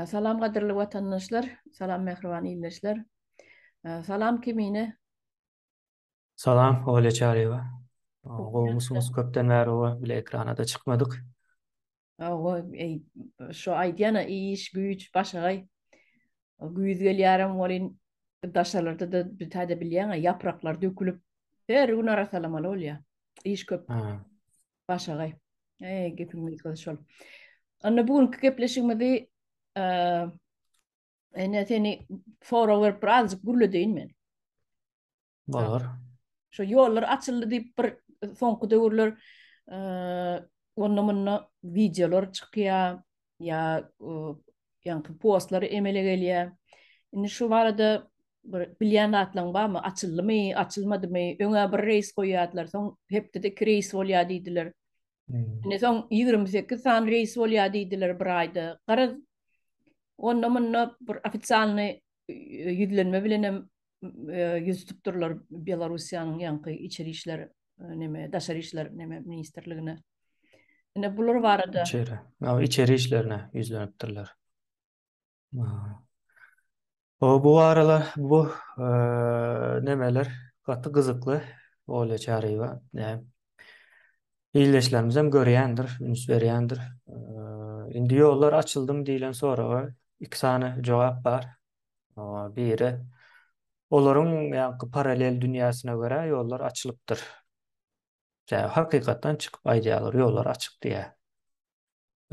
Salam gadyrly watandaşlar, salam mähriban ildeşler. Salam kimine Salam Olýa Çaryýewa. Gowumysyňyz? Köpden bäri oba bile ekranada çykmadyk. Oho, eý, şo aýdýana iş, güýç, başagaý. Güýz gelýärem welin, daşalarda-da bir taýda bilýäň-ä, ýapraklar dökülip, her gün arasalamaly bolýar. Iş köp. Başagaý. Eý, gepiň gysgasy şol. Onda bu günki gepleşigimizi Ene seni sorag berip bir azjyk gürledeýin men. Bolar. Şu ýollar açyldy diýip bir soňky döwürler onda munda wideolar çykýar ýa ýaňky postlar emele gelýär. Indi şu barada bir bilýän zatlaryň barmy? Açyldymy, açylmadymy? Öňe bir reýs goýýardylar, soň hepdede iki reýs bolýar diýdiler. Indi soň ýigrimi sekiz sany reýs bolýar diýdiler bir aýda. Garaz, onda-munda bir ofisialnyý ýüzlenme bilenem ýüz tutup durlar Belarussiýanyň ýaňky içeri işler neme, daşary işler neme ministrligine. Ine bular barada. Içeri. Ýa içeri işlerine ýüzlenipdirler. Hoo bu arada bu nemeler gaty gyzykly Olýa Çaryýewa näm ildeşlerimizem görýändir üns berýändir indi ýollar açyldymy diýlen soraga iki sany jogap bar biri olaryň ýaňky paralel dünýäsine görä ýollar açylypdyr Ýa hakykatdan çykyp aýdýarlar ýollar açyk diýä.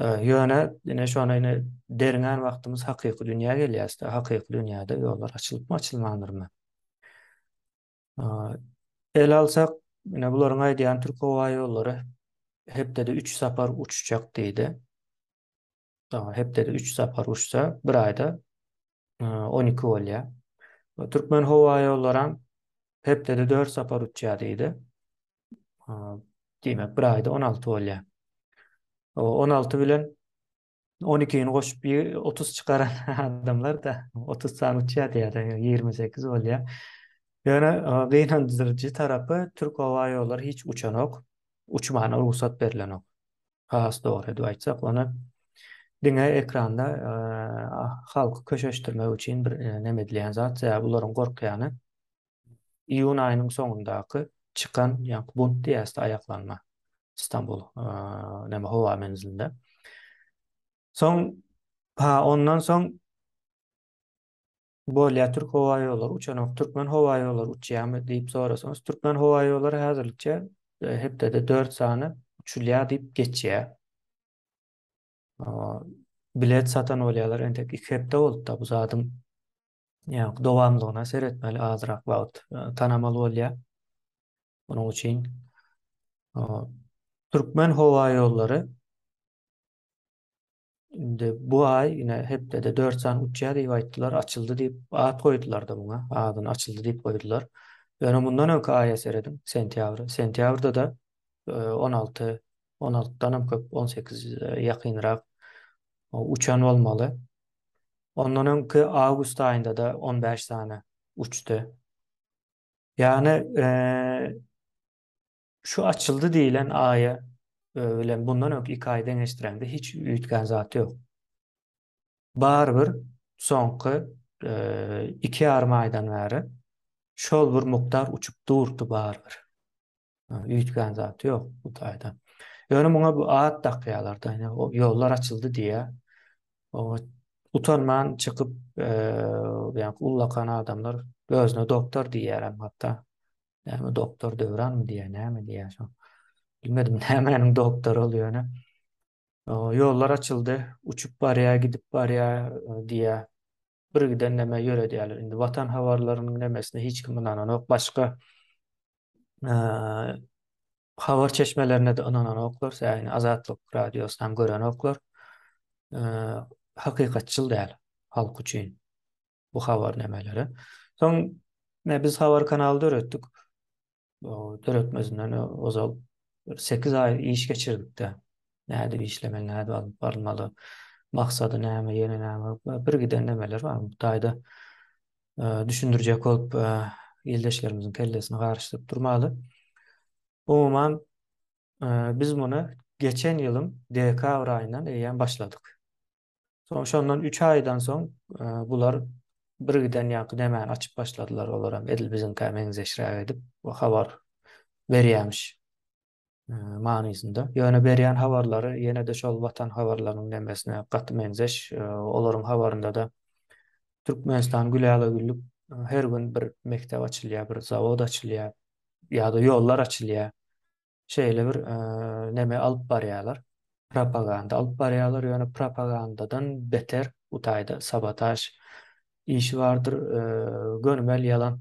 Ýöne ine şona ine derňän wagtymyz hakyky dünýä gelýäsde hakyky dünýäde ýollar açylypmy açylmandyrmy. Ele alsak ine bularyň aýdýan Türk howa ýollary hepdede üç sapar uçjak diýdi. hepdede üç sapar uçsa, bir aýda on iki bolýar. Türkmen howa ýollaram hepdede dört sapar uçýar diýdi. Diýmek, bir aýda on alty bolýar. On alty bilen on ikini goşup otuz çykaran adamlar-da otuz sany uçýar diýýär, ýigrimi sekiz bolýar. Ýöne gynandyryjy tarapy, türk howa ýollary hiç uçanok, uçmana rugsat berlenok. has dogry edip aýtsak, ony diňe ekranda halky köşeşdirmek üçin bir neme edilýän zat, sebäbi bularyň gorkýany iýun aýynyň soňundaky çykan, ýagny bunt diýäs-de, aýaklanma Stambul neme howa menzilinde. Soň, ha, ondan soň Bolýa türk howa ýollary uçanok türkmen howa ýollary uçýamy diýip sorasaňyz türkmen howa ýollary häzirlikçe hepdede dört sany uçulýa diýip geçýä. Bilet satan bolýalar entek iki hepde bolupda bu zadyň ýa dowamlygyna seretmeli azrak wagt tanamaly bolýa. Onuň üçin türkmen howa ýollary Indi bu aý ine hepdede dört sany uçýar diýip aýtdylar, açyldy diýip at goýdular-da muňa, adyny açyldy diýip goýdular. Ýöne mundan öňki aýa serediň, sentýabra. Sentýabrda-da on alty, on altydan hem köp, on sekiz ýakynrak uçan bolmaly. Ondan öňki awgust aýynda-da on bäş sany uçdy. Ýagny Şu açyldy diýilen aýa bilen bundan öňki iki aýy deňeşdireňde hiç üýtgän zat ýok. Barybir soňky iki ýarym aýdan bäri şol bir mukdar uçup durdy barybir. Üýtgän zat ýok bu taýda. Ýöne muňa bu at dakýarlar da, ýollar açyldy diýýär. Oňa utanman çykyp, ýa ullakan adamlar özüne doktor diýýär hem hatda. Näme doktor Döwranmy diýýär, näme diýýär şo. Bilmedim nämäniň doktory ol ýöne. Ýollar açyldy, uçup barýar, gidip barýar diýýär. Birgiden näme ýöredýärler. Indi watan habarlarynyň nämesine hiç kim ynananok. Başga habar çeşmelerine-de ynananoklar. Sähini Azatlyk radiosyny hem görenoklar. Hakykatçyl däl halk üçin. bu habarnamalary. Soň me biz habar kanaly döretdik. O döretmezinden ozal 8 aý iş geçirdikde nädip işlemeli, nädip alyp barylmaly, maksady näme, ýene näme, bir giden nemeler bar. Bu taýda düşündirjek bolup ildeşlerimiziň kellesini garyşdyryp durmaly. Umuman biz muny geçen ýylyň dekabr aýyndan eýýäm başladyk. Soň şondan üç aýdan soň e, bular birgiden ýaňky nämäni açyp başladylar olar hem edil biziňkä meňzeşräk edip we habar berýämiş e, manysynda. Ýöne berýän habarlary ýene-de şol watan habarlarynyň nemesine gaty meňzeş. E, olaryň habarynda da Türkmenistan güläle güllük her gün bir mekdep açylýar, bir zawod açylýar ýa-da ýollar açylýar. şeýle bir neme alyp barýarlar, propaganda alyp barýarlar, ýöne propagandadan beter bu taýda sabotaž işi bardyr, gönümel ýalan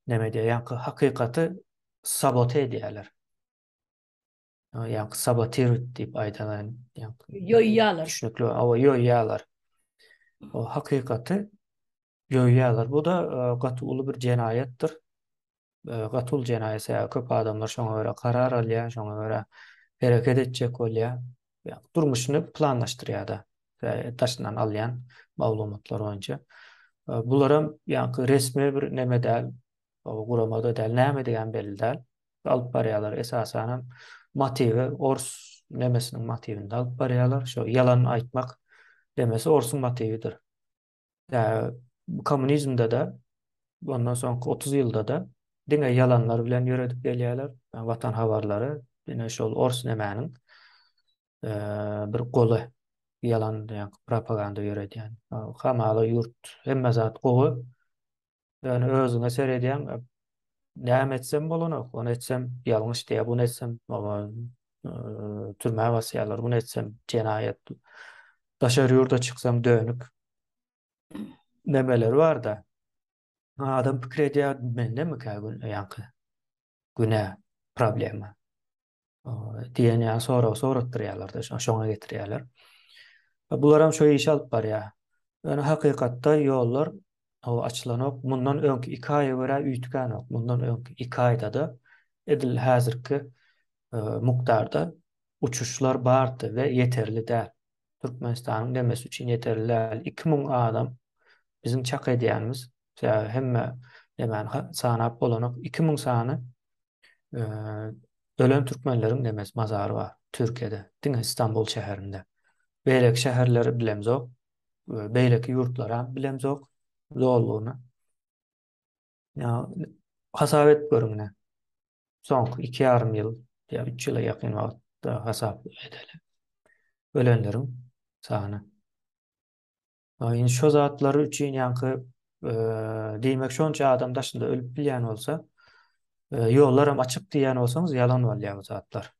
neme diýýär, ýaňky hakykaty sabote edýärler. Ýaňky sabotirut diýip aýdalan, ýaňky ýoýýarlar. Düşnükli, awa ýoýýarlar. O hakykaty Döwýärler. Bu-da gaty uly bir jenaýatdyr. Gaty uly jenaýat. Sebäbi köp adamlar şoňa görä karar alýar, şoňa görä hereket etjek bolýar. Ýagny durmuşyny planlaşdyrýar-da. Daşyndan alýan maglumatlar boýunça. Bularam ýagny resmi bir neme däl, gurama-da däl, nämedigi-hem belli däl. Alyp barýarlar. Esasanam motiwi ors nemesiniň motiwinde alyp barýarlar. Şo ýalan aýtmak nemesi orsuň motiwidir. Kommunizmde-de, ondan soňky otuz ýylda-da diňe ýalanlar bilen ýöredip gelýärler. Watan habarlary diňe şol ors nemäniň bir goly, ýalan propaganda ýöredýän. Hamala ýurt, hemme zat gowy. Ýöne özüňe seredýäň, näme etsem bolanok, ony etsem ýalňyş diýýär, buny etsem türmä basýarlar, buny etsem jenaýat. Daşary ýurda çyksaň dönük. Nemeler bar-da. Adam pikir edýär, mendemikä ýaňky günä, problema. diýen ýaly sorag sorapdyrýarlar-da, şoňa getirýärler. Bularam şo işi alyp barýar. Ýöne hakykatda ýollar açylanok. Mundan öňki iki aýa görä üýtgänok. Mundan öňki iki aýda-da edil häzirki mukdarda uçuşlar bardy we ýeterli däl. Türkmenistanyň demesi üçin ýeterli däl. Iki müň adam biziň çak edýänimiz, hemme nemäni sanap bolanok, iki müň sany ölen türkmenleriň nemes mazary bar Türkiýede, diňe Stambul şäherinde. Beýleki şäherleri bilemzok, beýleki ýurtlaram bilemzok zollugyny. Ýa hasap edip görüň ine. Soňky iki ýarym ýyl ýa üç ýyla ýakyn wagtda hasap edeli. Ölenleriň sany. Indi şo zatlary üçin ýaňky diýmek şonça adam daşynda ölüp bilýän bolsa, ýollaram açyk diýýän bolsaňyz ýalan bolýar bu zatlar.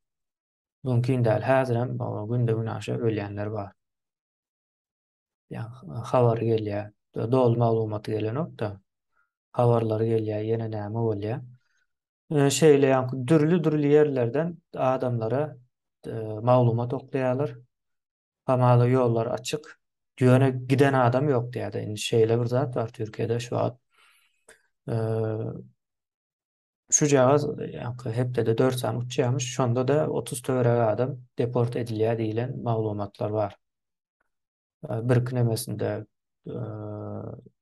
Mümkin däl. Häzirem günde günaşa ölýänler bar. Ýa habar gelýär. Doly maglumaty gelenok-da. Habarlary gelýär, ýene näme bolýar. Şeýle ýaňky dürli-dürli ýerlerden adamlara maglumat oklaýarlar. Hamala ýollar açyk. Ýöne giden adam ýok diýýärdi. Indi şeýle bir zat bar Türkiýede şu wagt. Şujagaz ýaňky hepdede dört sany uçýarmyş. Şonda-da otuz töweregi adam deport edilýär diýlen maglumatlar bar. Birki nemesinde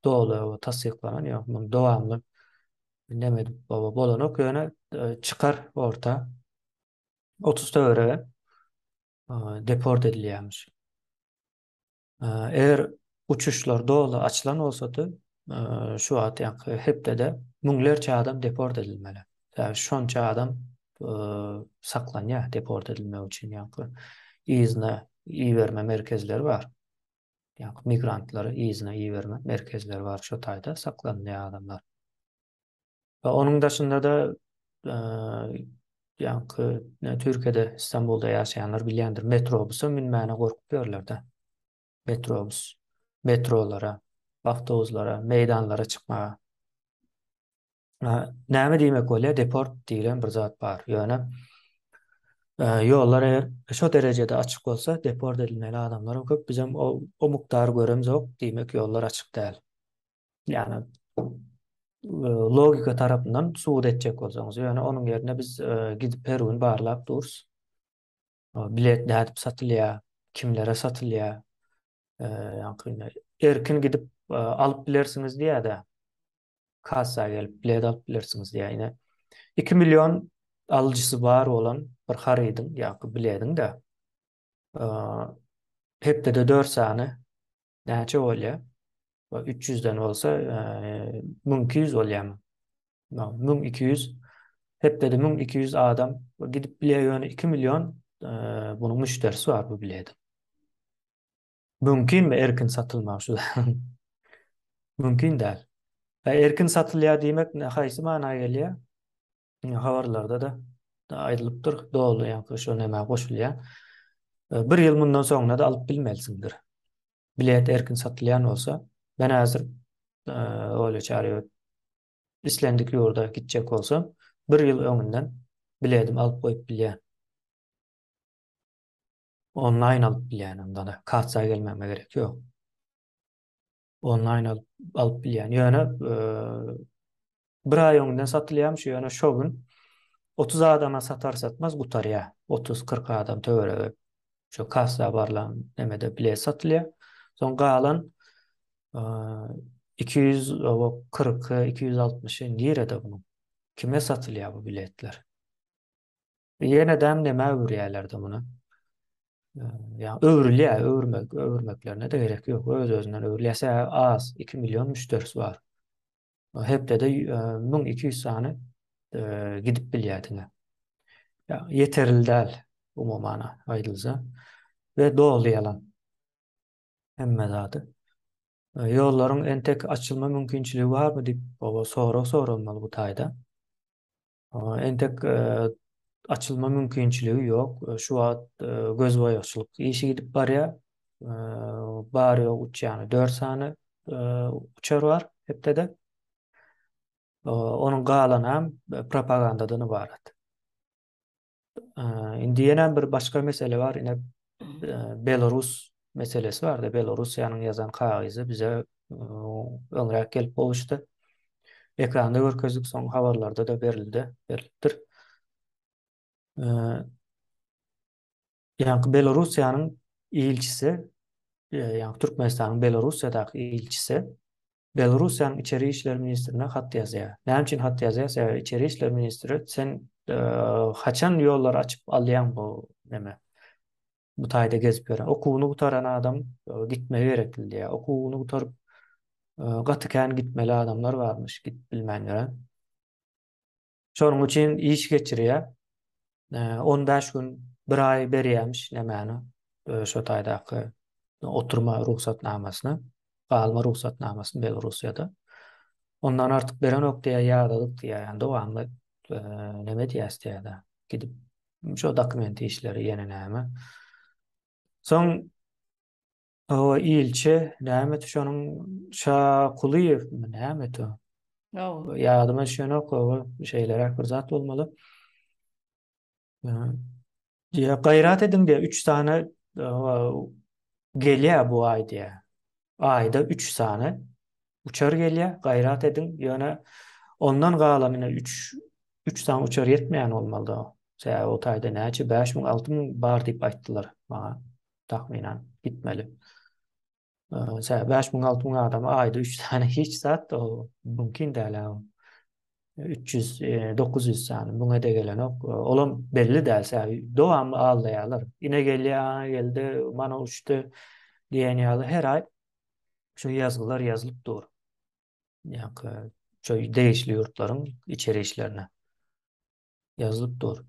doly tassyklanan ýok. Muny dowamly neme edip bolanok. Ýöne çykar orta otuz töweregi. deport edilýärmiş. Eger uçuşlar doly açylan bolsady, şu wagt ýaňky hepdede müňlerçe adam deport edilmeli. Ýa şonça adam saklanýar deport edilmek üçin ýaňky yzyna iberme merkezleri bar. Ýaňky migrantlary yzyna iberme merkezleri bar şu taýda saklanýar adamlar. We onuň daşynda-da, ýaňky Türkiýede, Stambulda ýaşaýanlar bilýändir, metrobusa münmäne gorkup ýörler-de. Metrobus, metrolara, awtobuslara, meýdanlara çykmaga. Näme diýmek bolýar? Deport diýlen bir zat bar. Ýöne ýollar eger şo derejede açyk bolsa, deport edilmeli adamlaram köp. Bizem o mukdary göremzok, diýmek ýollar açyk däl. Ýagny logika tarapyndan subut etjek bolsaňyz, ýöne onuň ýerine biz gidip her gün barlap durus. Bilet nädip satylýar, kimlere satylýar? Ýagny erkin gidip alyp bilersiňiz diýýär-de. Kassa gelip bilet alyp bilersiňiz diýýär. Ine 2 million alyjysy bar bolan bir harydyň ýa-da biletiň-de hepdede dört sany Näçe bolýar? Ba 300 den bolsa 1200 bolýarmy? No, 1200 hepdede 1200 adam gidip bilýär ýöne 2 million bunuň müşderisi bar bu biledi. Mümkinmi erkin satylmagy şu? Mümkin däl. Erkin satylýar diýmek haýsy mana gelýär? Indi habarlarda-da aýdylypdyr, doly ýaňky şo nämä goşulýar. E, bir ýyl mundan soňuna-da alyp bilmelisiňdir. Bilet erkin satylýan bolsa, men häzir e, öyle çare islendik ýurda gitjek bolsa, bir ýyl öňünden biledim alyp goýup bilýän. Onlaýn alyp bilýän onda-da, kartsa gelmäme gerek ýok. Onlaýn alyp, alyp bilýän. Ýöne bir aý öňden satylýarmyş, ýöne şo gün 30 adama satar satmaz gutarýar. 30-40 adam töweregi şo kassa barlan nemede bilet satylýar. Soň galan 240-260 nirede bu? Kime satylýar bu biletler? Ýenedem nämä öwürýärlerdi muny? Ýa öwrülýär, öwürmek, öwürmeklerine-de gerek ýok. Öz-özünden öwrülýär. Sä az, 2 million müşderisi bar. Hepdede 1200 sany gidip bilýär diňe. Ýa ýeterli däl umuman aýdylsa. We doly ýalan. Hemme zady. Ýollaryň entek açylma mümkinçiligi barmy diýip, oba sorag soralmaly bu taýda. Entek açylma mümkinçiligi ýok. Şu wagt gözboýagçylyk işi gidip barýar. Bary-ýogy üç ýa-da dört sany uçar bar hepdede. Onuň galanam propagandadan ybarat. Indi ýene bir başga mesele bar, ine Belarus meselesi bar-da, Belarusiýanyň ýazan kagyzy bize öňräk gelip gowuşdy. Ekranda görkezdik, soň habarlarda-da berildi, berlipdir. Ýaňky Belorussiýanyň ilçisi, ýaňky Türkmenistanyň Belorussiýadaky ilçisi Belorussiýanyň içeri işler ministrine hat ýazýar. Näme üçin hat ýazýar? Sebäbi içeri işler ministri sen haçan ýollary açyp alýaň bu näme? Bu taýda gezip ýören. Okuwyny gutaran adam gitmegi gerekli diýýär. Okuwyny gutaryp gaty kän gitmeli adamlar barmyş, gidip bilmän ýören. Şonuň üçin iş geçirýär. On bäş gün, bir aý berýärmiş nämäni, şo taýdaky oturma rugsatnamasyny, galma rugsatnamasyny Belorussiýada. Ondan artyk berenok diýýär, ýadalyk diýýär. Ýani dowamly neme diýýäs diýýär-de, gidip şo dokument işleri ýene näme. Soň Hawa ilçi näme et şonuň şa kulyýew mi näme et o. Hawa. Ýadyma düşenok hawa şeýleräk bir zat bolmaly. Ýa gaýrat ediň diýä 3 sany gelýä bu aý diýä. Aýda 3 sany uçar gelýä gaýrat ediň ýöne ondan galanyna 3 3 sany uçar ýetmeýän bolmalyda. Sebäbi o taýda näçe 5000 6000 bar diýip aýtdylar maňa. tahminan gitmeli. Şä 5000-6000 adam aýda 3 sany hiç zat o mümkin däl. 300-900 sany muňa degelenok. Olam belli däl. Şä dowamly aldaýarlar. Ine gelýär, ana geldi, mana uçdy diýen ýaly her aý şu ýazgylar ýazylyp dur. Ýa-da şu degişli ýurtlaryň içeri işlerine. ýazylyp dur.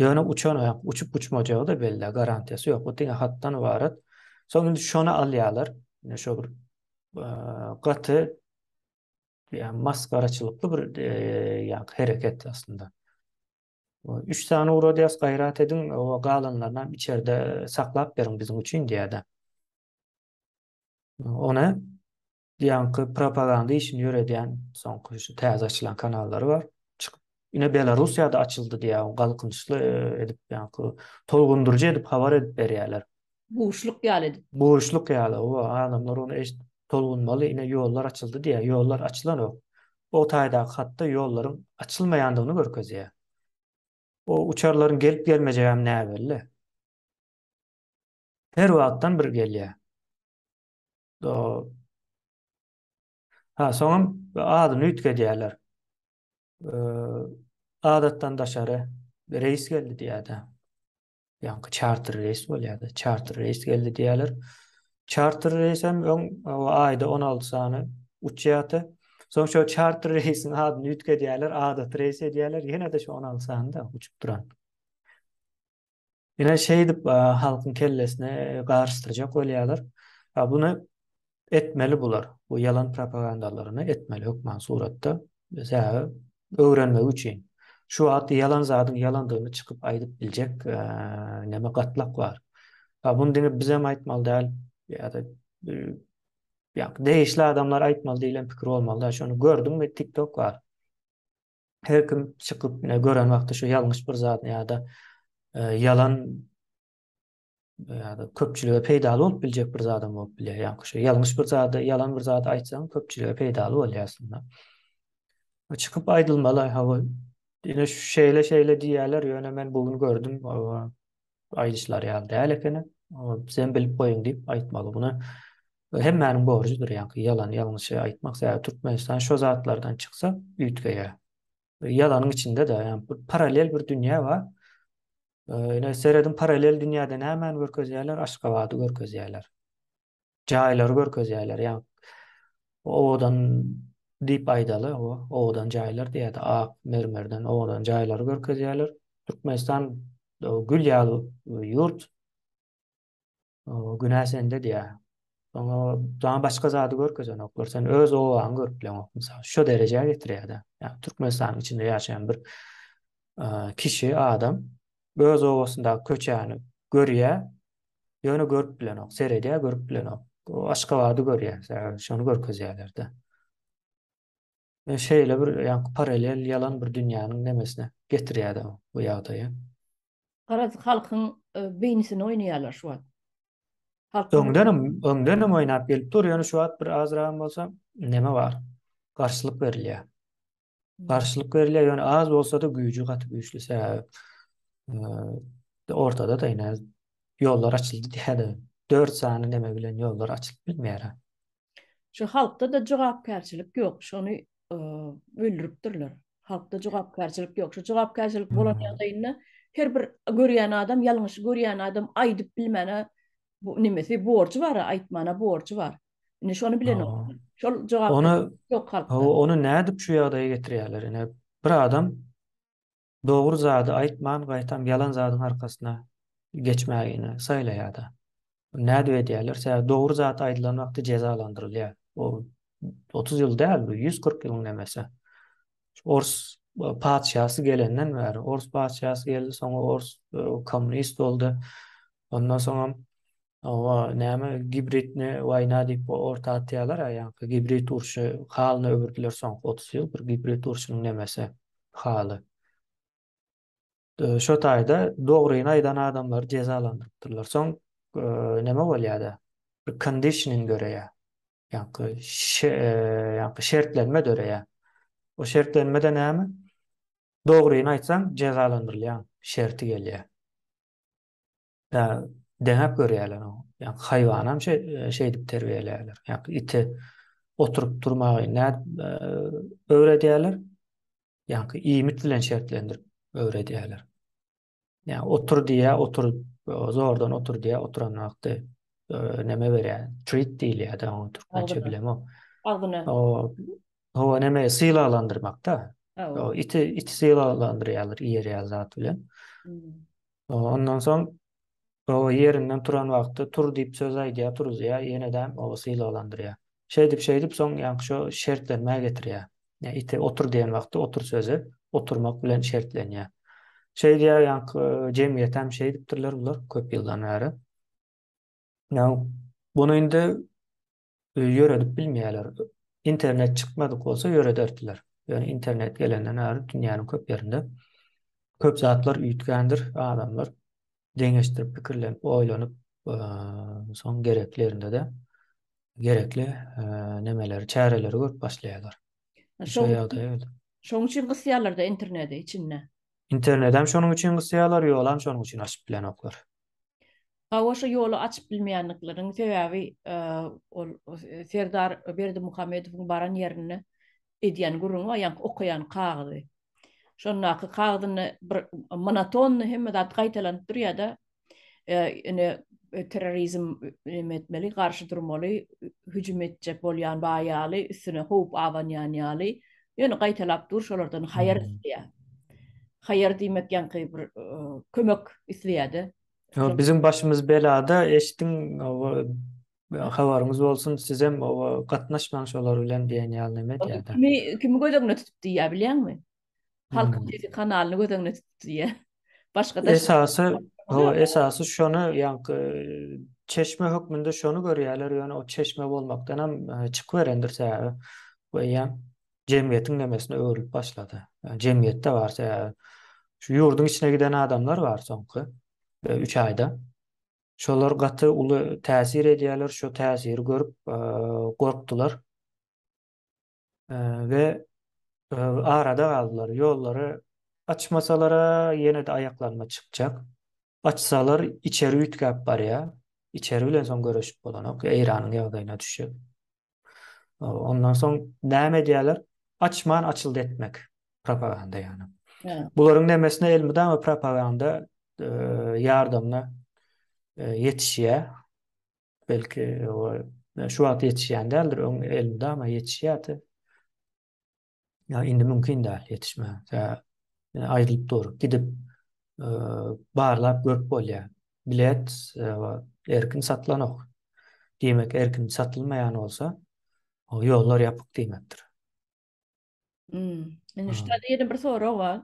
Ýöne uçan aýak uçup uçmajagy da belli, garantiýasy ýok. Bu diňe hatdan ybarat. Soň indi şony alýarlar. Ine şu bir gaty ýa masgaraçylykly bir ýa hereket aslynda. Üç sany uradýas gaýrat ediň, o galanlaryny içerde saklap beriň biziň üçin diýýärdi. Ony Ýaňky propaganda işini ýöredýän soňky şu täze açylan kanallary bar. Çykyp ine Belarusýada açyldy diýýär galkynyşly edip ýaňky tolgundyryjy edip habar edip berýärler. Buşluk ýaly edip. Buşluk ýaly owa adamlar ony eşidip tolgunmaly ine ýollar açyldy diýýär ýollar açylanok. O taýdaky hatda ýollaryň açylmaýandygyny görkezýär. O uçarlaryň gelip gelmejegem näbelli. Her wagtdan bir gelýär. Ha, soňam adyny üýtgedýärler. Adatdan daşary reýs geldi diýýärdi. Ýaňky çarter reýs bolýardy. Çarter reýs geldi diýýärler. Çarter reýs hem öň aýda 16 sany uçýardy. Soň şo çarter reýsiň adyny üýtgedýärler, adaty reýs edýärler, ýene-de şo 16 sany-da uçup duran. Ine şeýdip halkyň kellesine garyşdyrjak bolýarlar. A buny etmeli bular. Bu ýalan propagandalaryny etmeli hökman suratda. Sebäbi öwrenmegi üçin. Şu wagt ýalan zadyň ýalandygyny çykyp aýdyp biljek näme gatlak bar. A buny diňe bizem aýtmaly däl ýa-da ýa degişli adamlar aýtmaly diýlen pikir bolmaly däl. Şony gördüňmi TikTok bar. Her kim çykyp ne gören wagty şu ýalňyş bir zat ýa-da e, ýalan ýa-da köpçülige peýdaly bolup biljek bir zadam bolup bilýär. Ýa-da şu ýalňyş bir zat, ýalan bir zat aýtsaň köpçülige peýdaly bolýarsyňda. Çykyp aýdylmaly, hawa. Ýöne şeýle şeýle diýýärler, ýöne men bu gün gördüm. aýdyşlary ýaly däl ekeni. Bizem bilip goýuň diýip aýtmaly. Muny hemmäniň borjudyr ýaňky ýalan ýalňyşy aýtmak. Sebäbi Türkmenistan şo zatlardan çyksa üýtgeýär. Ýalanyň içinde-de ýa-da paralel bir dünýä bar. Ine serediň paralel dünýäde nämäni görkezýärler? Aşgabady görkezýärler. jaýlary görkezýärler, ýa owadan diýip aýdaly, owadan jaýlar diýýärdi, ak mermerden owadan jaýlary görkezýärler. Türkmenistan gül ýaly ýurt. Günä sende diýýär. Oňa daň başga zady görkezenoklar. Sen öz obaňy görüp bileňok. Mysal, şu derejä getirýär-de. Ýa Türkmenistanyň içinde ýaşaýan bir kişi, adam öz obasyndaky köçäni görýär, Ýöne görüp bilenok. Seredýär, görüp bilenok. O Aşgabady görýär, şony görkezýärler-de. E, şeýle bir ýaňky paralel ýalan bir dünýäniň nemesine getirýär bu ýagdaýa. Garaz halkyň e, beýnisini oýnaýarlar şu wagt. Öňdenem, öňdenem oýnap gelip dur, ýöne şu wagt bir azragam bolsa neme bar? Garşylyk berilýär. garşylyk berilýär, ýöne az bolsa-da güýji gaty güýçli sebäbi e, ortada da ýene ýollar açyldy diýýärdi. 4 sany neme bilen ýollar açylyp bilmeýär. Şu halkda da jogapkärçilik ýok, şony e, öldüripdirler. Halkda jogapkärçilik ýok. Şu jogapkärçilik bolan hmm. ýagdaýynda her bir görýän adam, ýalňyşy görýän adam aýdyp bilmäne Bu nemesi borjy bar-a, aýtmana borjy bar. Indi şony bilen Hawa. olar. Şol jogap Ony- ýok halkda. Hawa, ony nädip şu ýagdaýa getirýärler? Ine, bir adam dogry zady aýtman, gaýtam ýalan zadyň arkasyna geçmäge ine saýlaýar-da. Nädip edýärler? Sebäbi dogry zat aýdylan wagty jezalandyrylýar. Bu otuz ýyl däl, bu ýüz kyrk ýylyň nemesi. Ors patyşasy gelenden bäri, ors patyşasy geldi, soňra ors e, kommunist boldy. Ondan soňam owa näme gibridni waýna diýip orta atýarlar, ýa-da gibrid urşy halyna öwürdiler soňky 30 ýyl bir gibrid urşunyň nemesi haly. Şo taýda dogryny aýdan adamlary jezalandyrypdyrlar. Soň näme bolýada? Bir conditioning döreýär. Ýaňky ýaňky şertlenme döreýär. O şertlenmede näme? Dogryny aýtsaň jezalandyrylýaň şerti gelýär. Yani deňäp görýärler oňa. Yani haýwanam şe, şeýdip terbiýeleýärler. Yani ite oturyp durmagy nä e, öwredýärler? Yani iýmit bilen şertlendirip öwredýärler. Yani otur diýä, otur zordan otur diýä, oturan wagty e, näme berýär? Treat diýilýär-de oňa türkmençe bilemok. Agzyna. O, o näme sylalandyrmakda. O iti iti sylalandyrýarlar, iýerýär zat bilen. Hmm. Ondan soň oba ýerinden turan wagty tur diýip söz aýdýar, turuzýar, ýenedäm oba sylaglandyrýar. Şeýdip-şeýdip soň ýaňky şo şertlenmä getirýär. Ýa ite otur diýen wagty otur sözi oturmak bilen şertlenýär. Şeýdýär ýaňky jemgyýetem şeýdipdirler bular köp ýyldan bäri. Ýa bunu indi ýöredip bilmeýärler. Internet çykmadyk bolsa ýörederdiler. Ýöne internet gelenden bäri dünýäniň köp ýerinde köp zatlar üýtgändir. Adamlar deňeşdirip, pikirlenip, oýlanyp, soň gerekli ýerinde-de gerekli nemeleri, çäreleri görüp başlaýarlar. Şol ýagdaý öýdüp. Şonuň üçin gysýarlar-da interneti içinde. Internetem şonuň üçin gysýarlar, ýolam şonuň üçin açyp bilenoklar. Hawa şu ýoly açyp bilmeýänlikleriniň sebäbi ol Serdar Berdimuhamedowyň baran ýerinde edýän gürrüňi bar, ýaňky okaýan kagyzy. Şondaky kagyzynda bir monotonny hemme zat gaýtalanyp durýar-da, ine terrorizm neme etmeli, garşy durmaly, hüjüm etjek bolýan bar ýaly, üstüne howp abanýan ýaly, Ýöne gaýtalap dur şolardan haýar isleýär. Haýar diýmek ýaňky bir kömek isleýärdi. Biziň başymyz belada eşdiň habaryňyz bolsun sizem gatnaşmaň şolar bilen diýen ýaly neme diýýärdi. Kimi göz öňüne tutup diýýär bilýäňmi? Halkyň sesi kanalyny göz öňüne tutup diýýär. Başga da esasy ho esasy şony ýaňky çeşme hökmünde şony görýärler ýöne o çeşme bolmakdan hem e, çykyberendir sebäbi we ýa jemgyýetiň nemesine öwrülip başlady. Yani jemgyýetde bar sebäbi şu ýurduň içine giden adamlar bar soňky e, üç aýda. Şolar gaty uly täsir edýärler, şo täsiri görüp e, gorkdular. we arada galdylar. Ýollary açmasalar-a, ýene-de aýaklaryna çykjak. Açsalar, içeri üýtgäp barýar. Içeri bilen soň görüşip bolanok, Eýranyň ýagdaýyna düşjek. Ondan soň näme edýärler? Açman açyldy etmek, propaganda ýagny. Bularyň nemesine elmydama propaganda ýardamyna ýetişýär. Belki o şu wagt ýetişýän däldir, öň elinde ama ýetişýärdi. Ýa indi mümkin däl ýetişmän. Aýrylyp dur, gidip barlap görüp bolýar. Bilet erkin satlanok. Diýmek, erkin satylmaýan bolsa, ýollar ýapyk diýmekdir. Hmm. Indi şu taýda ýene bir sorag bar.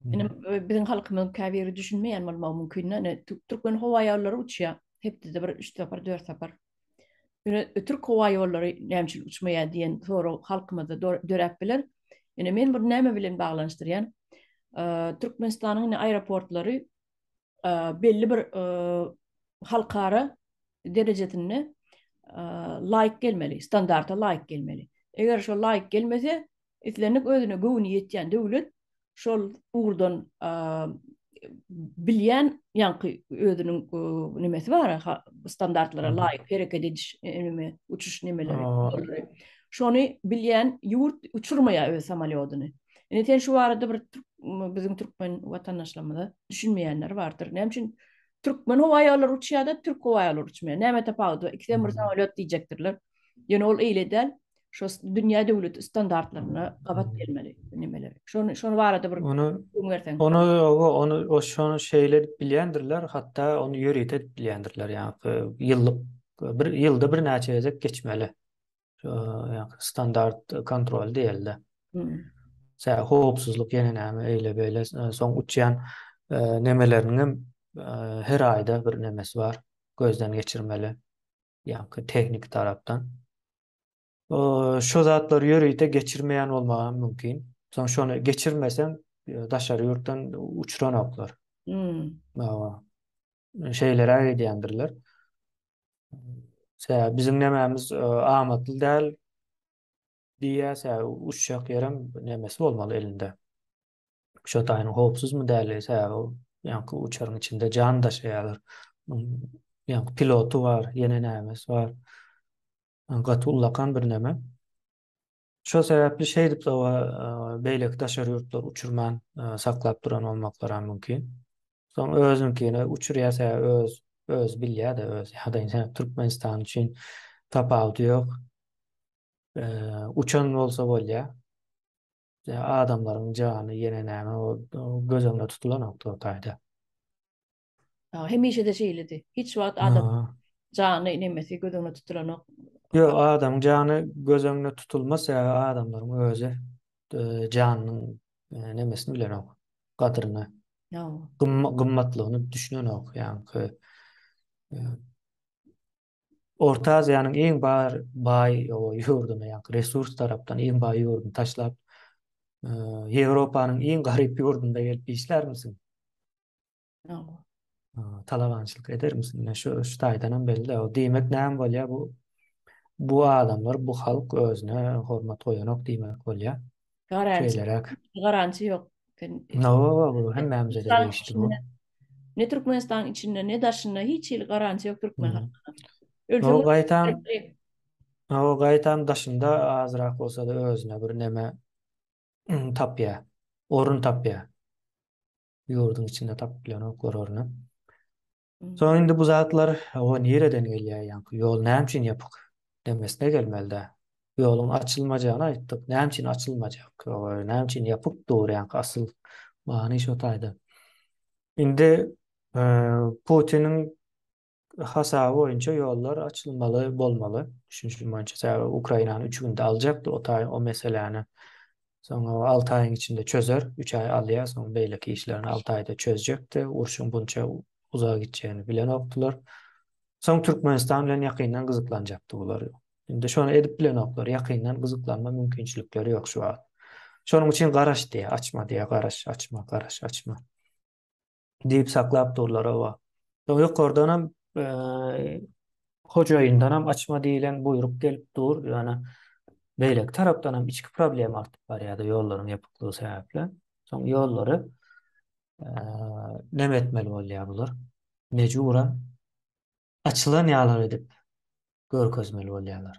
Indi biziň halkymyzyň käbiri düşünmeýän bolmagy mümkin. Indi türkmen howa ýollary uçýar. Hepdede bir 3 sapar, 4 sapar. Indi türk howa ýollary näme üçin uçmaýar diýen sorag halkymyzda döräp biler. Indi men bunu näme bilen baglanyşdyrýan? Türkmenistanyň aeroportlary belli bir halkara derejesinde laýyk gelmeli, standarta laýyk gelmeli. Eger şol laýyk gelmese, islendik özüne göwni ýetýän döwlet şol ugurdan bilýän ýaňky özüniň nimesi bar, standartlara laýyk hereket ediş neme, uçuş nemeleri. Şony bilýän ýurt uçurmaýar öz samolýodyny. Indi sen şu barada bir biziň türkmen watandaşlarymyza düşünmeýänler bardyr. Näme üçin türkmen howa ýollary uçýar-da, türk howa ýollary uçmaýar? Näme tapawudy bar? Ikisem bir samolýot diýjekdirler. Ýöne ol eýle däl. Şo dünýä döwleti standartlaryna gabat gelmeli bu nemeler. Şony şony barada bir Ony gürrüň berseň. Ony oba, ony o şony şeýle edip bilýändirler, hatda ony ýörite edip bilýändirler. Ýa-da ýyllyk bir ýylda birnäçe gezek geçmeli. standart kontrol diýildi. Sä howpsuzlyk ýene näme eýle beýle soň uçýan nemeleriniň hem her aýda bir nemesi bar gözden geçirmeli ýa-da tehnik tarapdan. Şu zatlar ýörite geçirmeýän bolmagy mümkin. Soň şony geçirmeseň daşary ýurtdan uçuranoklar. Hawa. şeýleräk edýändirler. Sebäbi biziň nemämiz e, amatly däl diýýär, sebäbi uçjak ýerem nemesi bolmaly elinde. Şotaýyň howpsuzmy däl, sebäbi ol ýaňky uçaryň içinde jan daşaýarlar. Ýaňky piloty bar, ýene nämesi bar. Gaty ullakan bir neme. Şol sebäpli şeýdip sowa beýleki daşary ýurtlar uçurman saklap duran bolmaklaram mümkin. Soň özüňkini uçurýarsa öz öz bilýär-de öz ýa-da indi Türkmenistan üçin tapawudy ýok. Uçan bolsa bolýar. Adamlaryň jany ýene näme göz öňünde tutulanok totaýda. Ha, hemişe-de şeýledi. Hiç wagt adam Ha. jany nemesi göz öňüne tutulanok. Ýok, adamyň jany göz öňüne tutulmaz, sebäbi adamlaryň özi e, janynyň e, nemesini bilenok, gadyryny, Ha. gym- gymmatlygyny düşünenok. Ýaňky e, Orta Aziýanyň iň bar baý ýurduny, ýa resurs tarapdan iň baý ýurduny taşlap, Ýewropanyň iň garyp ýurdunda gelip işlärmisiň? Ýok. Talabançylyk edermisiň? Ine şu şu taýdanam belli. Diýmek näme bolýar bu? Bu adamlar, bu halk özüne hormat goýanok diýmek bolýar. Garanti. Garanti yok. No, bu hem memze de geçti bu. Ne Türkmenistan içinde ne daşında hiç hili garanti yok Türkmen halkına. No, gaytam. No, gaytam daşında azrak olsa da özüne bir neme tapya. Orun tapya. Yurdun içinde tapylan ok orunu. Soň indi bu zatlar o nireden gelýär ýaňky ýol näme üçin ýapyk demesine gelmelidä. Ýoluň açylmajagyny aýtdyk. Näme üçin açylmajak? Näme üçin ýapyk dur ýaňky asyl many şo taýda. Indi Putiniň hasaby boýunça ýollar açylmaly bolmaly. Düşünişim boýunça sebäbi Ukrainany üç günde aljakdy o taý o meseläni. Soň o alty aýyň içinde çözer, üç aý alýar, soň beýleki işlerini alty aýda çözjekdi. Urşuň bunça uzaga gitjegini bilenokdylar. Soň Türkmenistan bilen ýakyndan gyzyklanjakdy bular. Indi şony edip bilenoklar, ýakyndan gyzyklanma mümkinçilikleri ýok şu wagt. Şonuň üçin garaş diýýär, açma diýýär, garaş, açma, garaş, açma. diýip saklap durlar hawa. Soň ýokardanam hojaýyndanam açma diýlen buýruk gelip dur, ýöne beýleki tarapdanam içki problem artyp barýar-da ýollaryň ýapyklygy sebäpli. Soň ýollary näme etmeli bolýar bular? Mejburan açylan ýaly edip görkezmeli bolýarlar.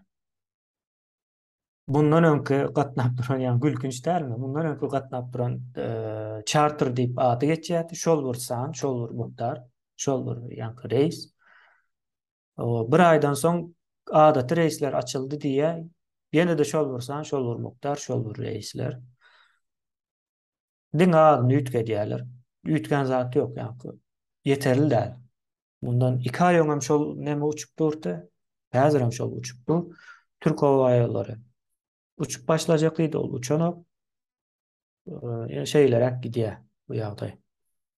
Mundan öňki gatnap duran, ýa gülkünç dälmi? Mundan öňki gatnap duran çarter diýip ady geçýärdi. Şol bir san, şol bir mukdar, şol bir ýaňky reýs. Bir aýdan soň adaty reýsler açyldy diýýär. Ýene-de şol bir san, şol bir mukdar, şol bir reýsler. Diňe azyny üýtgedýärler. Üýtgän zat ýok, ýaňky ýeterli däl. Mundan iki aý öňem şol neme uçup durdy, häzirem şol uçup dur. Türk howaýollary uçup başlajak diýdi, ol uçanok. Ýöne şeýleräk gidýär bu ýagdaý.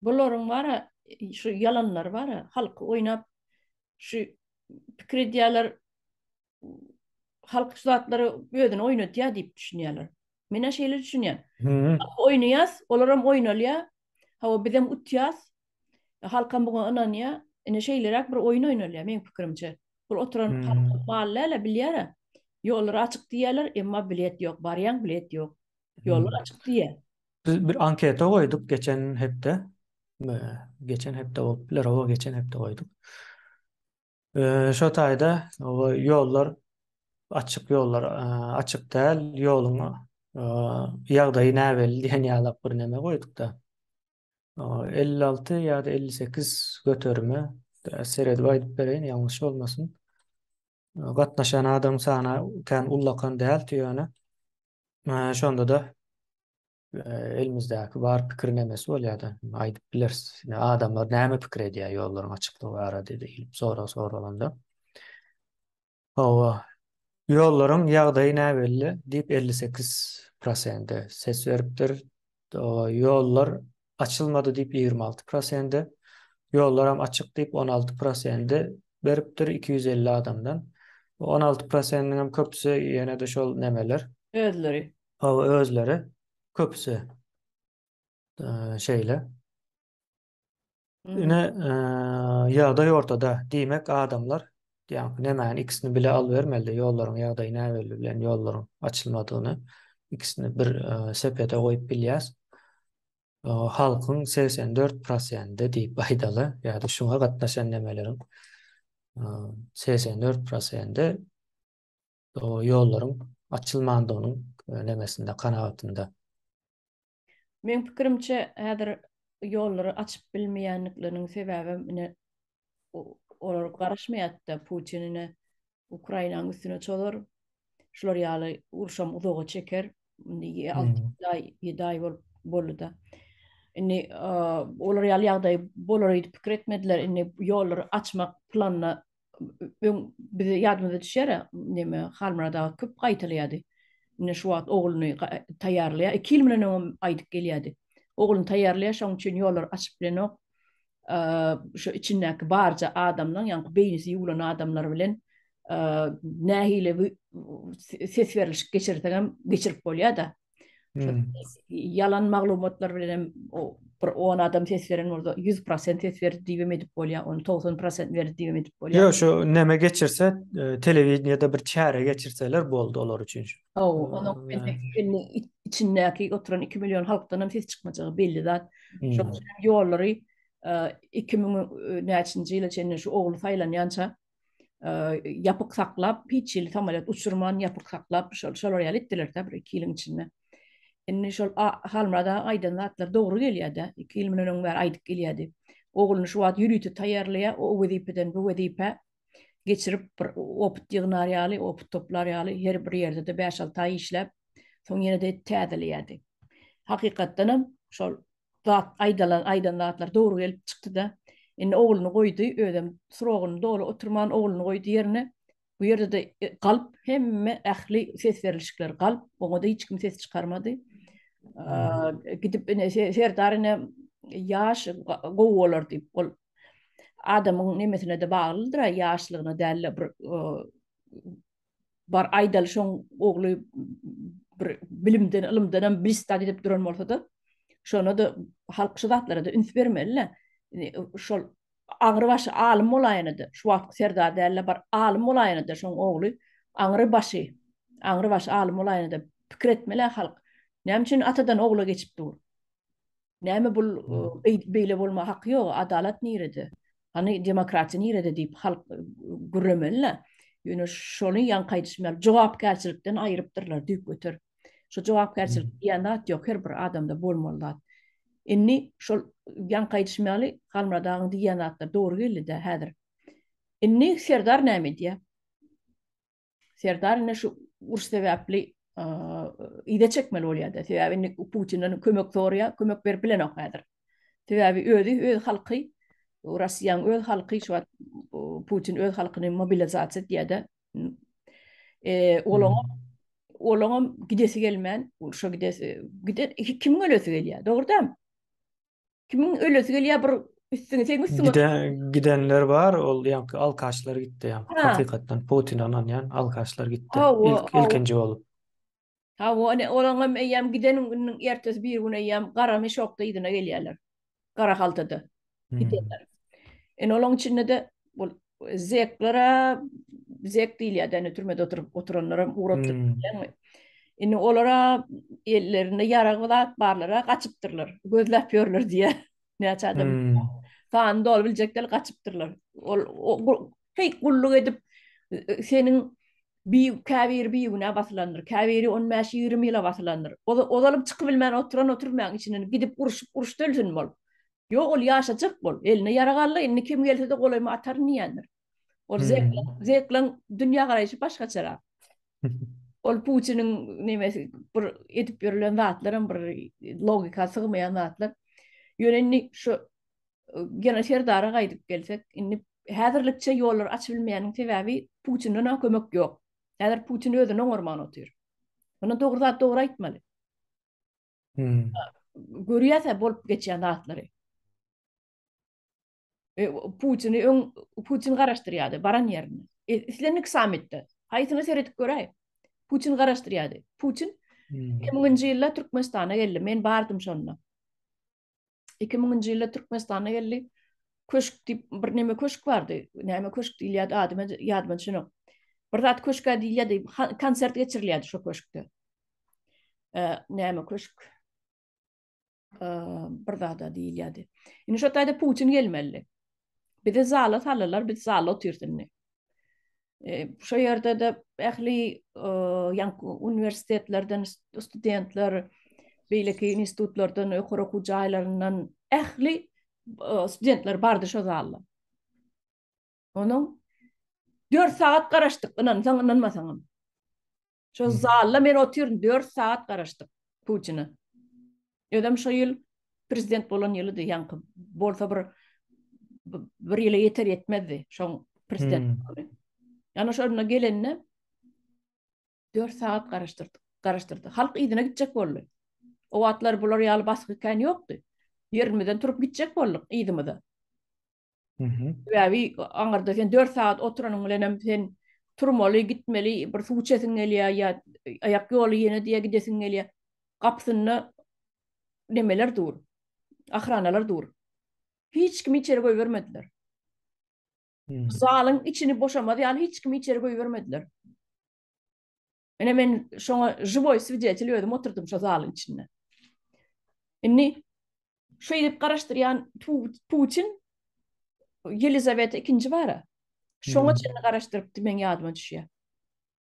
Bularyň bara şu ýalanlary bara halky oýnap şu pikir edýärler halk şu zatlary özüni oýnatýar diýip düşünýärler. Men şeýle düşünýän. Oýnaýas, olar hem oýnalýar. Hawa, biz hem utýas. Halk hem buňa ynanýar. Ine şeýleräk bir oýun oýnalýar meň pikirimçe. Bul oturan halk bal däl, bilýär. Ýollar açyk diýýärler, emma bilet ýok. Barýaň, bilet ýok. Ýollar açyk diýýär. Biz bir anketa goýduk geçen hepde. Geçen hepde bolup biler, hawa, geçen hepde goýduk. Şo taýda ýollar açyk ýollar açyk däl ýoluň ýagdaýy näbelli diýen ýalak bir neme goýdukda. Elli alty ýa-da elli sekiz göterime seredip aýdyp bereýin ýalňyş bolmasyn. Gatnaşan adam sany kän ullakan däldi ýöne şonda-da elimizdäki bar pikir nemesi bolýar-da, aýdyp bileris. Ine, adamlar näme pikir edýär ýollaryň açyklygy barada diýlip sorag soralanda. Hawa, ýollaryň ýagdaýy näbelli diýip elli sekiz prosenti ses beripdir. Ýollar açylmady diýip ýigrimi alty prosenti, ýollaram açyk diýip on alty prosenti beripdir iki ýüz elli adamdan. On alty prosentiňem köpüsi ýene-de şol nemeler. Özleri Hawa özleri köpüsi eee, şeýle. Mhm. Ine eee, ýagdaý ortada. Diýmek adamlar diýýän nemäni ikisini bile alybermeli ýollaryň ýagdaýy näbelli bilen ýollaryň açylmadygyny ikisini bir eee, sepete goýup bilýäs. Eee, halkyň 84 prosenti diýip aýdaly ýa-da şuňa gatnaşan nemeleriň eee, 84 prosenti ýollaryň açylmandygynyň nemesinde, kanagatynda. Meň pikirimçe, häzir ýollary açyp bilmeýändikleriniň sebäbem ine, olar garaşmaýarda, Putin ine, Ukrainanyň üstüne çozar, şular ýaly uruşam uzaga çeker, indi alty-ýedi aý, ýedi aý bolup boldy-da. Indi olar ýaly ýagdaý bolar öýdüp pikir etmediler, indi ýollary açmak planyna öň bize ýadymyza düşýär, neme, Halmyrat aga köp gaýtalaýardy. Ine, şu wagt ogluny taýýarlaýar. Iki ýyl mundan öňem aýdyp gelýärdi. Ogluny taýýarlaýar, şonuň üçin ýollary açyp bilenok. Şu içindäki barja adamlaň, ýaňky beýnisi ýuwlan adamlar bilen nähili ses berilişik geçirsegem geçirip bolýar-da. Ýalan maglumatlar bilen hem bir on adam ses beren bolsa, ýüz prosent ses berdi diýip hem edip bolýar, ony togsan prosent berdi diýip hem edip bolýar. Ýok, şu näme geçirse, e, telewideniýede bir çäre geçirseler boldy olar üçin. Haw, onuň indi içindäki oturan iki million halkdan hem ses çykmajagy belli zat. Hmm. Şonuň üçin ýollary e, iki müň e, näçinji ýyla çenli şu ogly saýlanýança ýapyk saklap, hiç hili samolýot uçurman, ýapyk saklap, şol, şolar ýaly etdiler-de bir iki ýylyň içinde. Indi şol Halmyrat aga aýdan zatlar dogry gelýär-de, iki ýyl mundan öň bäri aýdyp gelýärdi. Ogluny şu wagt ýörite taýýarlaýar, o wezipeden bu wezipä geçirip, bir opyt ýygnar ýaly, opyt toplar ýaly, her bir ýerde-de bäş-alty aý işläp, soň ýene-de täzeleýärdi. Hakykatdanam, şol zat aýdalan aýdan zatlar dogry gelip çykdyda indi ogluny goýdy özem srogyny doly oturman ogluny goýdy ýerine bu ýerdede galp hemme ähli ses berilişikler galp oňada hiç kim ses çykarmady gidip ine serdar ine ýaş gowy bolar diýip ol adamyň nemesinede baglydyra ýaşlygyna dälle bir bar aýdaly şoň ogly bir bilimden ylymdan hem bristat edip duran bolsada şona da halk şu zatlara da üns bermelile şol aňry başy alym bolaýana da şu wagtky serdar dälle bar alym bolaýana da şoň ogly aňry başy aňry başy alym bolaýana da pikir etmeli halk näme üçin atadan ogla geçip dur Näme bul beýle bolma haky ýok, adalat nirede? Hany demokratiýa nirede diýip halk gürremeli-le. Ýöne şony ýaňky aýdyşym ýaly jogapkärçilikden aýrypdyrlar düýp göter. Şu jogapkärçilik diýen zat ýok, her bir adamda bolmaly zat. Indi şol ýaňky aýdyşym ýaly Halmyrat agaň diýen zatlar dogry geldi-de häzir. Indi Serdar näme edýär? Serdar indi şu uruş sebäpli ide çekmeli bolýar-da. Sebäbi indi Putinden kömek sorýar, kömek berip bilenok häzir. Sebäbi özi, öz halky, Russiýanyň öz halky şu wagt Putin öz halkyny mobilizasiýa etýär-de. Eee, olaňa olaňam gidesi gelmän, urşa gidesi, gide kimiň ölesi gelýär, dogry däl? Kimin ölesi gelýär bir üstüňe sen üstüňe. Gide, gidenler bar, ol ýaňky alkaşlar gitdi ýaňky. Hakykatdan Putin ananýan alkaşlar gitdi. Ha, o, İlk, ilkinji bolup. Ha, o, ine, olaň hem eýýäm giden günüň ertesi bir gün eýýäm gara meşokda yzyna gelýärler. Gara haltada hmm. gidenler. Ine, olaň içinde-de ol Zeklere zek diýilýär, ýani türmede oturyp oturanlara ugrapdyr. Hmm. Indi olara ellerinde ýarag zat barlara gaçypdyrlar. Gözläp ýörler diýýär. Näçe adam. Hmm. Sany dolup biljekler gaçypdyrlar. Ol heý gulluk edip seniň bi käbir bi günä basylandyr. Käbiri 15-20 ýyla basylandyr. Ozalyp çykyp bilmän oturan oturmaň içinden gidip uruşyp uruşda ölsün bol. Ýok, ol ýaşajak bol. Eline ýarag aldy, indi kim gelse-de golaýyma ataryn diýýändir. Ol Zekleň, Zekleň dünýägaraýşy başgaçarak. Ol Putiniň nemesi, bir edip ýörlen zatlaram bir logika sygmaýan zatlar. Ýöne indi şu Gena Serdara gaýdyp gelsek, indi häzirlikçe ýollary açyp bilmeýäniň sebäbi Putinden-ä kömek ýok. Häzir Putin özüni oňarman otyr. Muny dogry zat dogry aýtmaly. Görýäs-ä bolup geçýän zatlary. E, Putini öň Putin garaşdyrýardy baran ýerinde. E, islendik sammitde. Haýsyna seredip göräý. Putin garaşdyrýardy. Putin 2000-nji ýylda Türkmenistana geldi. Men bardym şonda. iki müňünji ýylda Türkmenistana geldi. Köşk diýip bir neme köşk bardy. Näme köşk diýilýärdi adyma ýadyma düşenok. Bir zat köşkä diýilýärdi. Konsert geçirilýärdi şu köşkde. Näme köşk? Bir zada diýilýärdi. Indi şu taýda Putin gelmeli. Bizi zala saldylar, biz zalda otyrys indi. Şo ýerde-de ähli ýaňky uniwersitetlerden studentler, beýleki institutlardan, ýokary okuw jaýlaryndan ähli studentler bardy şo zalda. Onuň 4 sagat garaşdyk, ynansaň, ynanmasaňam. Şo zalda men otyryn, dört sagat garaşdyk Putina. Özem şo ýyl prezident bolan ýylydy, ýaňky bolsa bir bir ýyla ýeter ýetmezdi şoň prezident. Hmm. Ýana şo ýerine gelende dört sagat garaşdyrdy. Garaşdyrdy. Halk yzyna gitjek boldy. O wagtlar bular ýaly basgy kän ýokdy. Ýerimizden turup gitjek bolduk yzymyza. Sebäbi aňyrda sen dört sagat oturanyň bilen hem sen turmaly, gitmeli, bir suw içesiň gelýär ýa aýak ýoly ýene diýe gidesiň gelýär. Gapysynda nemeler dur, ahranalar dur. Hiç kimi içeri goýbermediler. Zalyň içini boşamaz ýaly hiç kimi içeri goýbermediler. Ine men şoňa žiwoý swidetel özüm oturdym şo zalyň içinde. Indi şeýdip garaşdyrýan Putin Ýelizaweta ikinji bara. Şoňa hmm. çenli garaşdyrypdy meň ýadyma düşýär.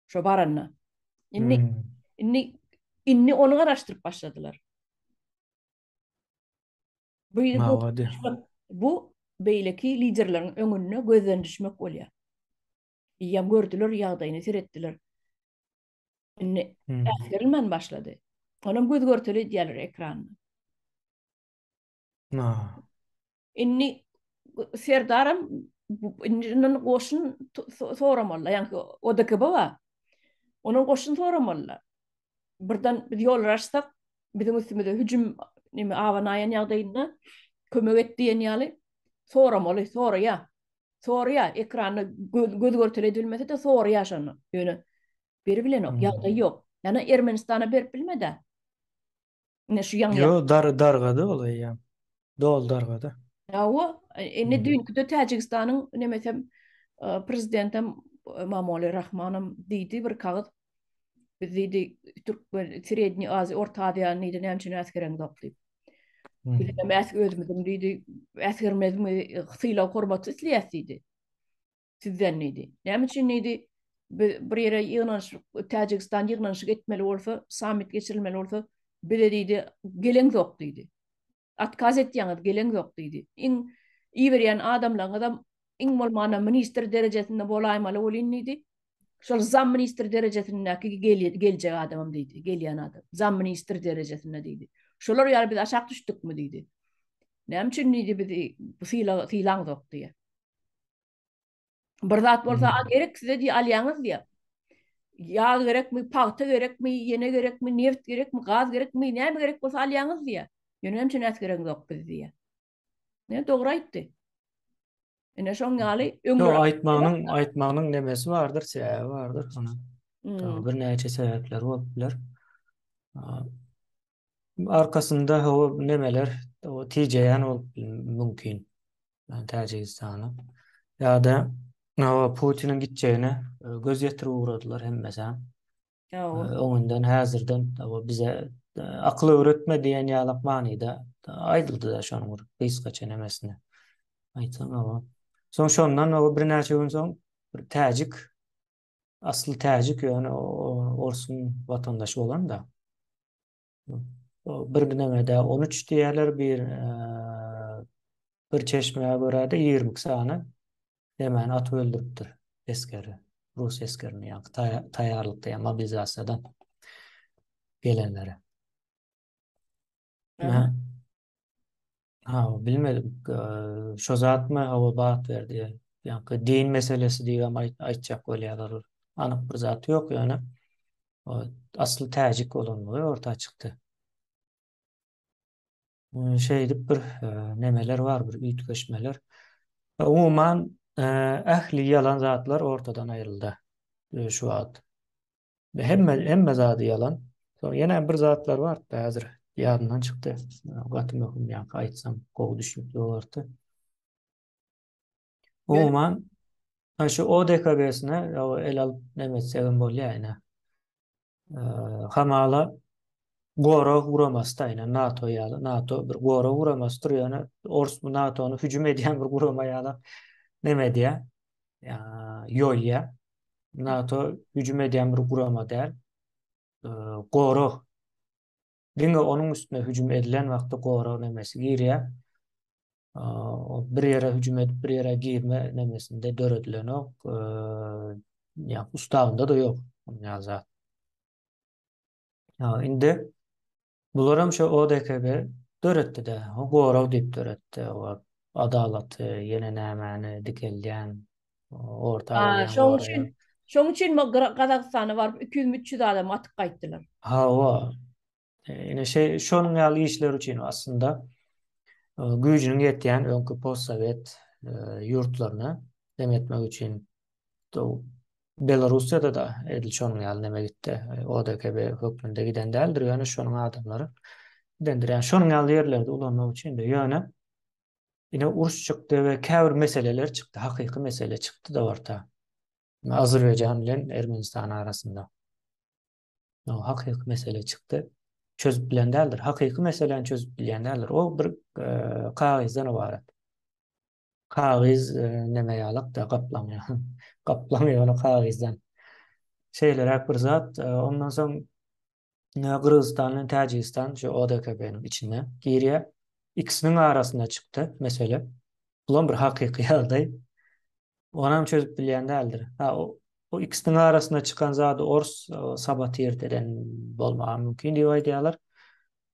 Şo baranda. Indi hmm. indi indi ony garaşdyryp başladylar. Bu bu beýleki liderleriň öňünde gözden düşmek bolýar. Diýýän gördüler ýagdaýyny seretdiler. Indi äsgerilmän başlady. Onam göz görteli edýärler ekranda. Na. Indi Serdaram indi ondan goşun soramalylar. Ýani ODKB bar. Ondan goşun soramalylar. Birden biz ýollar açsak, biziň üstümize hüjüm neme abanaýan ýagdaýynda kömek et diýen ýaly soramaly, soraýa. Sorýa, ekranda göz görtele edilmese-de sorýa şony. Ýöne beri bilenok, ýagdaý ýok. Ýana Ermenistana berip bilmedi. Ine şu ýaňy. Ýo, dar dargady ol eýýäm. Dol dargady. Hawa, indi düýnküde Täjigistanyň nemesem prezidentem Mamoli Rahmanam diýdi bir kagyz Biz diýdi, Türkmen, Sredni Aziýa, Orta Aziýany diýdi, näme üçin äsgereň ýok diýip. Biz hem äsg özümiziň diýdi, äsgermezmi, sylag hormaty isleýäs diýdi. Sizden diýdi. Näme üçin diýdi, biz bir ýere ýygnanyşyp, Täjigistan ýygnanyşyk etmeli bolsa, sammit geçirilmeli bolsa, bize diýdi, geleňzok diýdi. Atkaz etýäňiz, geleňzok diýdi. Iň iberýän adamlaňyzam iň bolmanda ministr derejesinde bolaýmaly welin diýdi, şol zamministr derejesindäki geljek adamam diýdi, gelýän adam, zamministr derejesinde diýdi. Şolar ýaly biz aşak düşdükmi diýdi. Näme üçin diýdi biz sylaňzok diýýä. Bir zat bolsa hmm. gerek size diye alýaňyz diye. Yağ gerekmi, pagta gerekmi, yene gerekmi, neft gerekmi, gaz gerekmi, ne mi gerek bolsa alýaňyz diye. Yöne hem çenet gerek yok biz diye. Ne doğru aytti. Yine şoň ýaly öňe. Ýok, aýtmagynyň, aýtmagynyň nemesi bardyr, sebäbi bardyr şonuň. Hmm. Bir näçe sebäpler bolup biler. Arkasynda hawa nemeler o tijeýän bolup mümkin. Yani Täjigistana. Ýa-da hawa Putiniň gitjegine e, göz ýetirip ugradylar hemmesi. Ýogu. E, Öňünden häzirden hawa bize e, akyl öwretme diýen ýalak manyda e, aýdyldy da şonuň bir gysgaça nemesine. Aýtsaň hawa. Soň şondan hawa birnäçe gün soň bir täjik asly täjik ýöne orsuň watandaşy bolan-da. Bir gidemede 13 diýerler, bir bir çeşmäge görä-de 20 sany demän atyp öldüripdir eskeri, rus eskerini, ýa taýýarlykda, ýa mobilizasiýadan gelenleri. Aha. Ha, bilmedim. Eee, Şo zatmy hawa bat berdi. Ýaňky din meselesi diýibem aýt- aýtjak bolýarlar. Anyk bir zat ýok ýöne. O asly täjik bolandygy orta çykdy. Eee, Şeýdip bir eee, nemeler bar, bir üýtgeşmeler. E, Umuman, eee, ähli ýalan zatlar ortadan aýryldy. Eee, Şu wagt. Hemme hemme zady ýalan. Soň ýene bir zatlar bardy häzir ýadymdan çykdy. Gaty möhüm ýa-da aýtsam gowy düşnükli bolardy. Umuman şu ODKB-sine el alyp näme etsek hem bolýar ine. Hamala gorag guramasy da ine NATO ýaly. NATO bir gorag guramasy durýar. Ýöne ors bu NATO-ny hüjüm edýän bir gurama ýaly näme edýär? ýoýýar. NATO hüjüm edýän bir gurama däl. Gorag diňe onuň üstüne hüjüm edilen wagtda gorag nemesi girýär. Bir ýere hüjüm edip, bir ýere girme nemesinde döredilenok. Ýa ustavynda-da ýok ýaly zat. Ýa indi bularam şu ODKB döretdi-de, gorag diýip döretdi. Adalaty, ýene nämäni dikeldýän, orta goýýan. Şoň üçin, şoň üçin bu Gazagystana baryp 200-300 adam atyp gaýtdylar. Hawa. Ine şe şonuň ýaly işler üçin aslynda güýjüniň ýetýän öňki postsowet ýurtlaryna dem etmek üçin Belarussiýada da edil şonuň ýaly neme gitdi. E, ODKB hökmünde giden däldir, ýöne şonuň adamlary gidendir. Ýani şonuň ýaly ýerlerde ulanmak üçin de ýöne ine uruş çykdy we käbir meseleler çykdy, hakyky mesele çykdy da orta. Azerbaýjan bilen Ermenistan arasynda. No, hakyky mesele çykdy. Çözüp bilen däldir. Hakyky meseleni çözüp bilýän däldir. O bir e, kagyzdan ibarat. Kagyz näme ýalak-da, gaplaň ýaly. Gaplaň ýaly kagyzdan. Şeýleräk bir zat. Ondan soň Gyrgyzystan bilen Täjigistan şu ODKB-niň içine girýär. Ikisiniň arasynda çykdy mesele. Bulam bir hakyky ýagdaý. Onam çözüp bilýän däldir. Ha, o ikisiniň arasynda çykan zady ors sabotird eden bolmagy mümkin diýip aýdýarlar.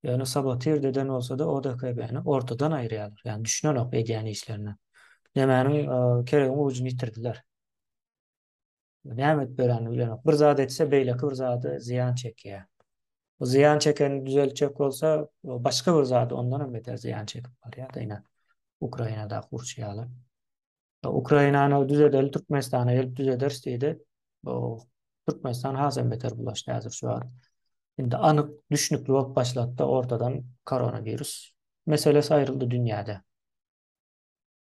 Ýöne sabotirdi eden bolsada ODKB-ni ortadan aýyrýarlar. Ýani düşünenok edýän işlerine. Nämäniň keregiň ujyny ýitirdiler. Näme edip ýörenini bilenok. Bir zat etse beýleki bir zady zyýan çekýär. Bu zyýan çekeni düzeltjek bolsa başga bir zady ondanam beter zyýan çekip barýar-da ine Ukrainadaky urşy ýaly. Ukrainany düzedeli Türkmenistana gelip düzederis diýdi. Bu Türkmenistan has hem beter bulaşdy häzir şu an. Indi anyk düşnükli bolup başlady ortadan koronawirus meselesi aýryldy dünýäde.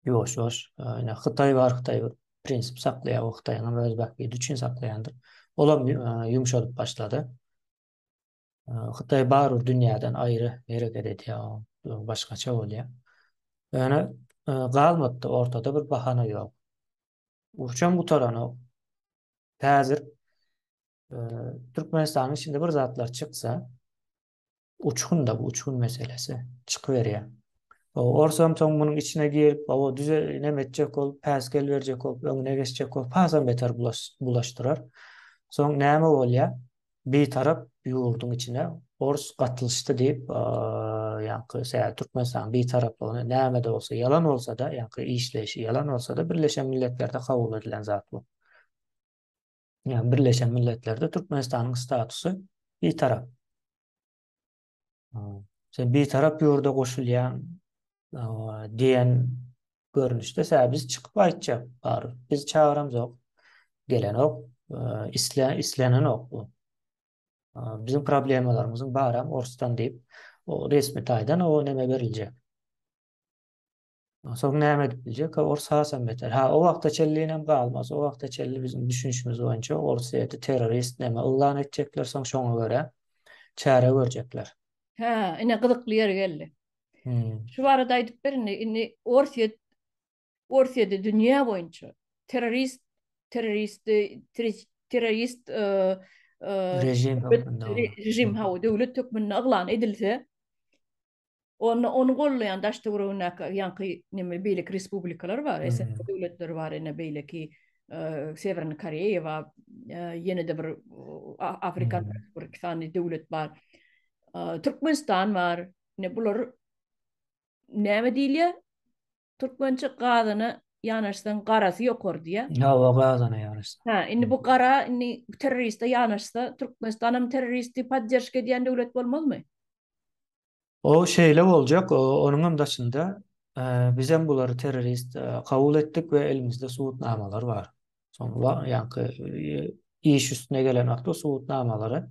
Ýoş ýoş ýa Hytaý bar Hytaý prinsip saklaýar o Hytaýyň öz bähbidi üçin saklaýandyr. Olam ýumşalyp başlady. Hytaý barybir dünýäden aýry hereket edýär, başgaça bolýar. Ýöne e, galmady, ortada bir bahana ýok. Urçam gutaranok. Häzir e, Türkmenistanyň içinde bir zatlar çyksa, uçgun da bu uçgun meselesi çykyp berýär. O orsam soň munuň içine girip, o düze näme etjek ol, päsgel berjek ol, öňüne geçjek ol, pasam beter bulaşdyrar. Soň näme bolýar? Bitarap ýurduň içine ors gatlyşdy diýip, ýaňky sä Türkmenistanyň bitaraplygyny näme-de bolsa, ýalan bolsa-da, ýaňky işleýşi ýalan bolsa-da, Birleşen Milletlerde kabul edilen zat bu. Ýa Birleşen Milletlerde Türkmenistanyň statusy bitarap. Sen bitarap ýurda goşulýan diýen görnüşde sä biz çykyp aýtjak bar. Biz çagyramzok. Gelenok, isle islenenok bu. Bizim problemalarymyzyň baram orsdan diýip, o resmi taýdan o näme beriljek. Onsoň näme edip biljek? Ors hasam beter. Ha, o wagta çenlinem galmaz. O wagta çenli biziň düşünişimiz boýunça Orsýeti terrorist näme yglan etjekler, soň şoňa görä çäre görjekler. Hä, ine gyzykly ýeri geldi. Şu barada aýdyp ber indi. Indi Orsýet Orsýeti dünýä boýunça terrorist terrorist terrorist režim hökmünde döwlet hökmünde yglan edilse, Onda ony goldaýan daş-töweregindäki ýaňky neme beýleki respublikalar bar, eýse döwletler bar, ine beýleki Sewerni Koreýa bar, ýene-de bir Afrikan bir iki sany döwlet bar. Türkmenistan bar. Ine bular näme diýilýär? Türkmençe gazyna ýanaşsaň garasy ýokar diýýär. Hawa, gazyna ýanaşsaň. Hä, indi bu gara indi terroriste ýanaşsa, Türkmenistanam terroristi podderşka edýän döwlet bolmazmy? O şeýle boljak, onuňam daşynda bizem bulary terrorist kabul etdik we elimizde subutnamalar bar. Soň wa ýaňky iş üstüne gelen wagtda subutnamalary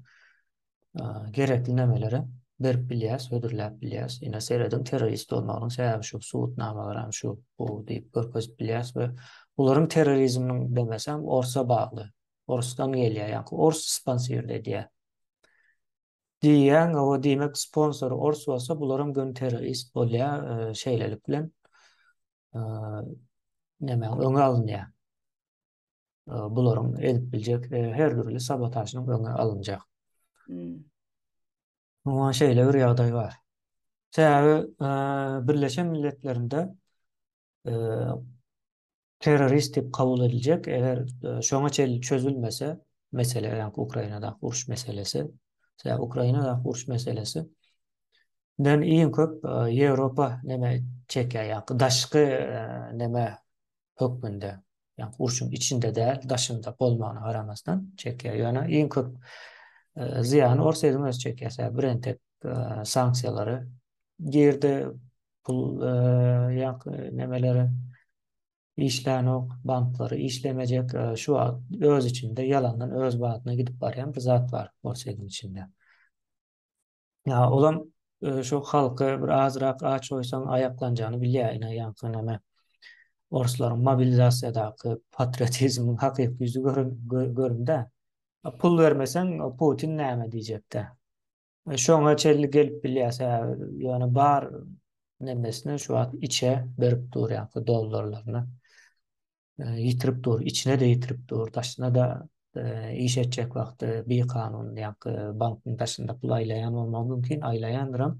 gerekli nämeleri berip bilýäs, hödürläp bilýäs. Ine serediň terrorist bolmagynyň sebäbi şu subutnamalar hem şu bu diýip görkezip bilýäs we bularyň terrorizminiň demesem orsa bagly. Orsdan gelýär, ýaňky ors sponsor edýär. Diýýän, o diýmek sponsor ors bolsa bularyň gön terrorist bolýar, şeýlelik bilen näme öňe alynýar. Bularyň edip biljek her dürli sabotažyň öňe alynjak. Hmm. Muňa şeýle bir ýagdaý bar. Sebäbi Birleşen Milletlerinde terrorist diýip kabul ediljek, eger şoňa çenli çözülmese, mesele ýa-da Ukrainadaky uruş meselesi, sebäbi Ukrainadaky uruş meselesi Den iň köp Ýewropa näme çekýär ýa-da daşky näme hökmünde. Ýa-da urşuň içinde däl, daşynda bolmagyna garamasdan çekýär. Ýöne iň köp zyýany Orsýetiň özi çekýär. Sebäbi BRENTEK sanksiýalary girdi, pul ýa-da nämeleri işlänok, banklary işlemejek. Şu wagt öz içinde ýalandan öz badyna gidip barýan bir zat bar Orsýetiň içinde. Ýa olam şu halky bir azrak aç goýsaň aýaklanjagyny bilýär ine ýaňky näme orslaryň mobilizasiýadaky patriotizmiň hakyky ýüzi göründä. Pul bermeseň Putin näme diýjekdä. Şoňa çenli gelip bilýäs hä ýöne bar nemesini şu wagt içe berip dur ýaňky dollarlaryny. ýitirip dur, içine-de ýitirip dur, daşyna-da iş etjek wagty bikanun ýa-da bankyň daşynda pul aýlaýan bolmagy mümkin, aýlaýandyram.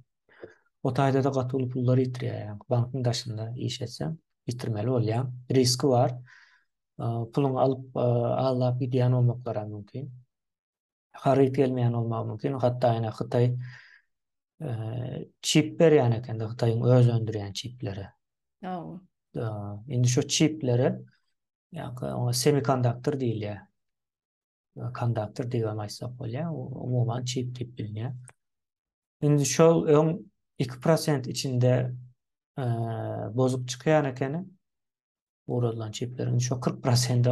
O taýda-da gaty uly pullary ýitirýär. Ýagny bankyň daşynda iş etseň, ýitirmeli bolýaň. Riski bar. Puluňy alyp, aldap gidýän bolmaklaram mümkin. haryt gelmeýän bolmagy mümkin. Hatda ýene Hytaý çip berýän ekende Hytaýyň öz öndürýän çipleri. Hawa. Indi şu çipleri ýa-da oňa semikonduktor diýilýär. Konduktor diýip aýtsak bolýar, umuman çip diýip bilinýär. Indi şol öň 2% içinde bozuk çykýan ekeni. ugradylan çipleriň şu 40 prosenti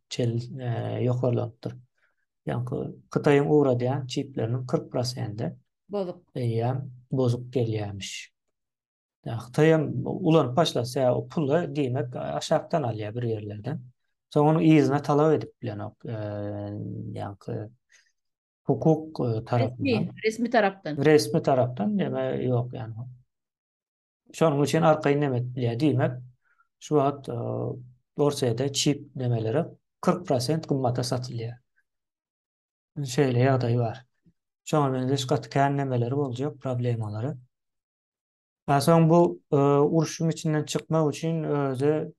çel e, ýokarlanypdyr. Ýaňky Hytaýyň ugradýan çipleriniň 40 prosenti bozuk. Eýýäm bozuk gelýärmiş. Ýa Hytaý hem ulanyp başlasa, o puly diýmek aşakdan alýar bir ýerlerden. Soň onuň yzyna talap edip bilenok. E, ýaňky hukuk e, tarapyndan. Resmi, resmi tarapdan. Resmi tarapdan, ýa ýok ýa Şonuň üçin arkaýyn näme edýär? Diýmek, şu wagt Orsýetde çip nämeleri 40 prosent gymmata satylýar. Şeýle ýagdaý bar. Şoňa meňzeş gaty kän nämeleri boljak, problemalary. Soň bu urşuň içinden çykmak üçin özi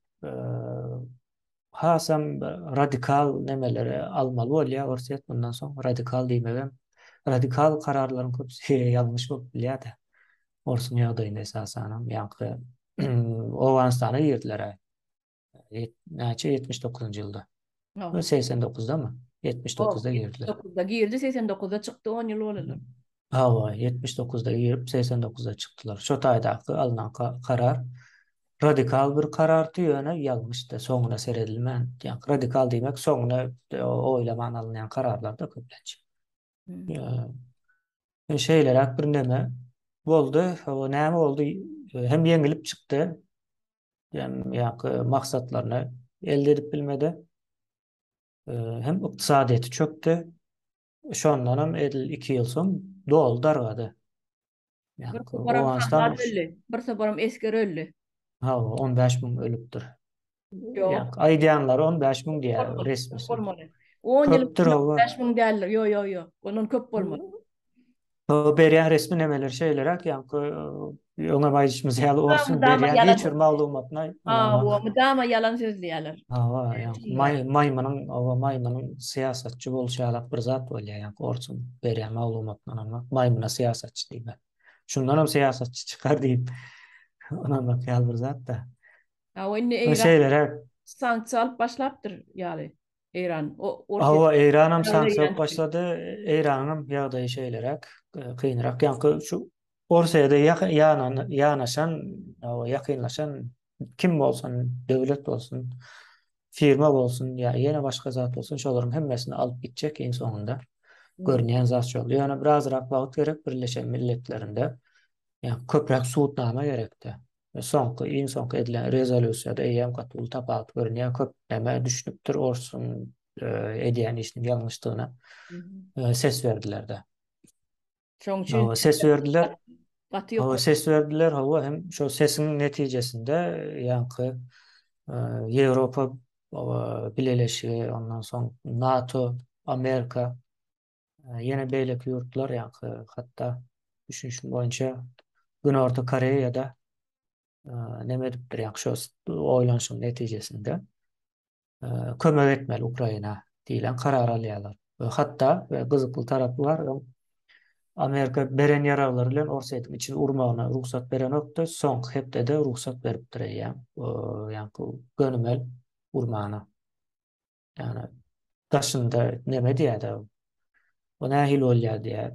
hasam radikal nemeleri almaly bolýar Orsýet mundan soň. Radikal diýmegem, radikal kararlaryň köpüsi ýalňyş bolup bilýär-de. Orsuň ýagdaýynda esasanam ýaňky Owganystana girdiler-ä. Näçe ýetmiş dokuzynjy ýylda? Ýa segsen dokuzdamy? Ýetmiş dokuzda girdiler. Ýetmiş dokuzda girdi, segsen dokuzda çykdy, on ýyl bolaly. Hawa, ýetmiş dokuzda girip, segsen dokuzda çykdylar. Şo taýdaky alnan karar radikal bir karardy, ýöne ýalňyşdy, soňuna seredilmän, ýa radikal diýmek, soňuna oýlaman alynýan kararlardy köplenç. Ýa şeýleräk bir neme boldy, hawa näme boldy, hem ýeňilip çykdy, hem ýaňky maksatlaryny elde edip bilmedi, hem ykdysadyýeti çökdi, Şondanam edil iki ýyl soň doly dargady. Bir toparam sagbaz öldi, bir toparam esger öldi. Hawa, on bäş müň ölüpdir. Ýok. Aýdýanlary on bäş müň diýýär resmisi. On ýyl on bäş müň däldir. Ýok, ýok, ýok. Ondan köp bolmaly. Berýän resmi nemeler şeýleräk, ýaňky öňem aýdyşymyz ýaly orsuň berýän hiç bir maglumatyna hawa, mydama ýalan sözleýärler. Hawa, ýaňky maýmynyň, hawa, maýmynyň syýasatçy bolşy ýalak bir zat bolýar, ýaňky orsuň berýän maglumatyna ynanmak, maýmyna syýasatçy diýmek. Şundan hem syýasatçy çykar diýip ynanmak ýaly bir zat-da. Hawa, indi eýran şeýleräk sanksiýa alyp başlapdyr ýaly. Eýran Hawa, Eýran hem sanksiýa başlady. Eýranyň hem ýagdaýy şeýleräk, kynrak. Ýaňky şu Orsyýada ýanaşan, hawa, ýakynlaşan kim bolsa, döwlet bolsun, firma bolsun ýa ýene başga zat bolsun, şolaryň hemmesini alyp gitjek iň soňunda. Görünýän zat şol. Ýöne birazrak wagt gerek Birleşen Milletlerinde. Ýa köpräk subutnama gerek-de. we soňky, iň soňky edilen rezolýusiýada eýýäm gaty uly tapawut görünýär, köp näme düşünipdir orsuň edýän işiniň ýalňyşdygyna ses berdiler-de. Şoň üçin ses berdiler. Gaty ýokary. Ses berdiler, hawa hem şo sesiň netijesinde ýaňky Ýewropa bileleşigi, ondan soň NATO, Amerika Ýene beýleki ýurtlar, ýaňky hatda düşünişim boýunça Günorta Koreýada neme edipdir, ýaňky şo oýlanyşyň netijesinde kömek etmeli Ukraina diýlen karar alýarlar. We hatda we gyzykly tarapy bar, Amerika beren ýaraglary bilen Orsýetiň içini urmagyna rugsat berenokdy, soňky hepdede rugsat beripdir eýýäm, ýaňky gönümel urmana. Yani daşynda neme diýär da. O nähil bolýar diýär.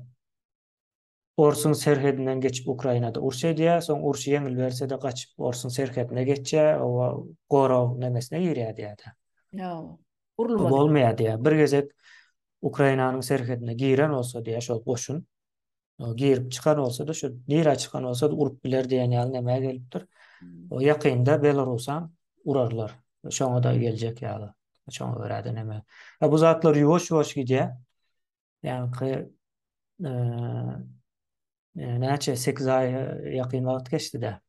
Orsuň serhedinden geçip Ukrainada uruş edýär, soň uruş ýeňil berse-de gaçyp Orsuň serhedine geçýär, owa gorag nemesine girýär diýär. Ýa, urulmadyk. Bolmaýar diýär. Bir gezek Ukrainanyň serhedine giren bolsa diýär şol goşun. girip çykan bolsa-da, şu nirä çykan bolsa-da urup biler diýen ýaly nämä gelipdir. O ýakynda Belarusam urarlar. Şoňa-da geljek ýaly. Şoňa görä-de näme. Bu zatlar ýuwaş-ýuwaş gidýär. Ýaňky näçe, sekiz aý ýakyn wagt geçdi-de.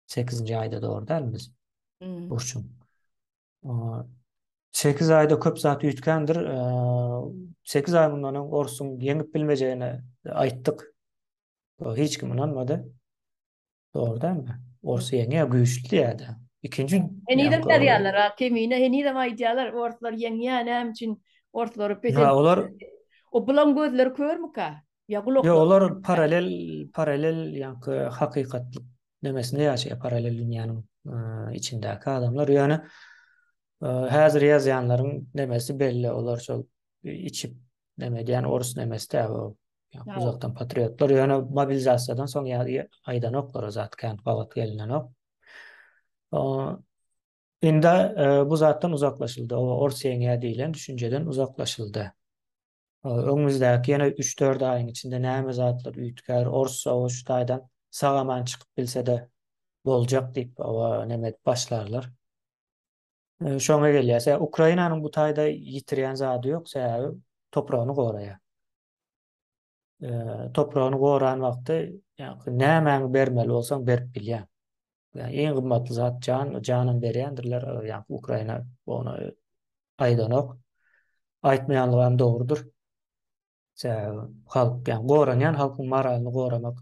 8-nji aýda dogry däl biz. Hmm. Burçun. Sekiz ayda köp zat üytkendir. E, sekiz ay bundan öň Orsuň ýeňip bilmejegini aýtdyk. Hiç kim ynanmady. Doğru değil mi? Orsu ýeňýä güýçli ýa-da. Ikinji Henizem ýazýarlar, Kemine henizem aýdýarlar, orslar ýeňýä näme üçin orslary pes. Ha, olar o bulan gözleri körmüka? Ya gulak. Yo olar paralel paralel ýa-ki hakykatlyk nemesinde ýaşaýar paralel dünýäniň içindäki adamlar. Ýöne häzir ýazýanlaryň nemesi belli olar şol içip neme diýen orus nemesi tä o uzakdan patriotlar ýöne mobilizasiýadan soň ýa-da aýdanoklar o zat kän gabat gelinenok. Indi bu zatdan uzaklaşyldy. O orus ýeňýär diýlen düşünjeden uzaklaşyldy. Öňümizdäki ýene üç-dört aýyň içinde näme zatlar üýtgär, ors-sowat şu taýdan sag-aman çykyp bilse-de boljak diýip, oba näme edip başlarlar. Şoňa gelýäs. Ukrainanyň bu taýda ýitirýän zady ýok, sebäbi topragyny goraýar. Topragyny goran wagty nämäňi bermeli bolsaň berip bilýäň. Yani en gymmatly zat can, janam berýändirler, yani Ukraina ona aýdanok. Aýtmaýanlygy hem dogrudyr. Sebäbi halk, yani goranýan halkyň moralyny goramak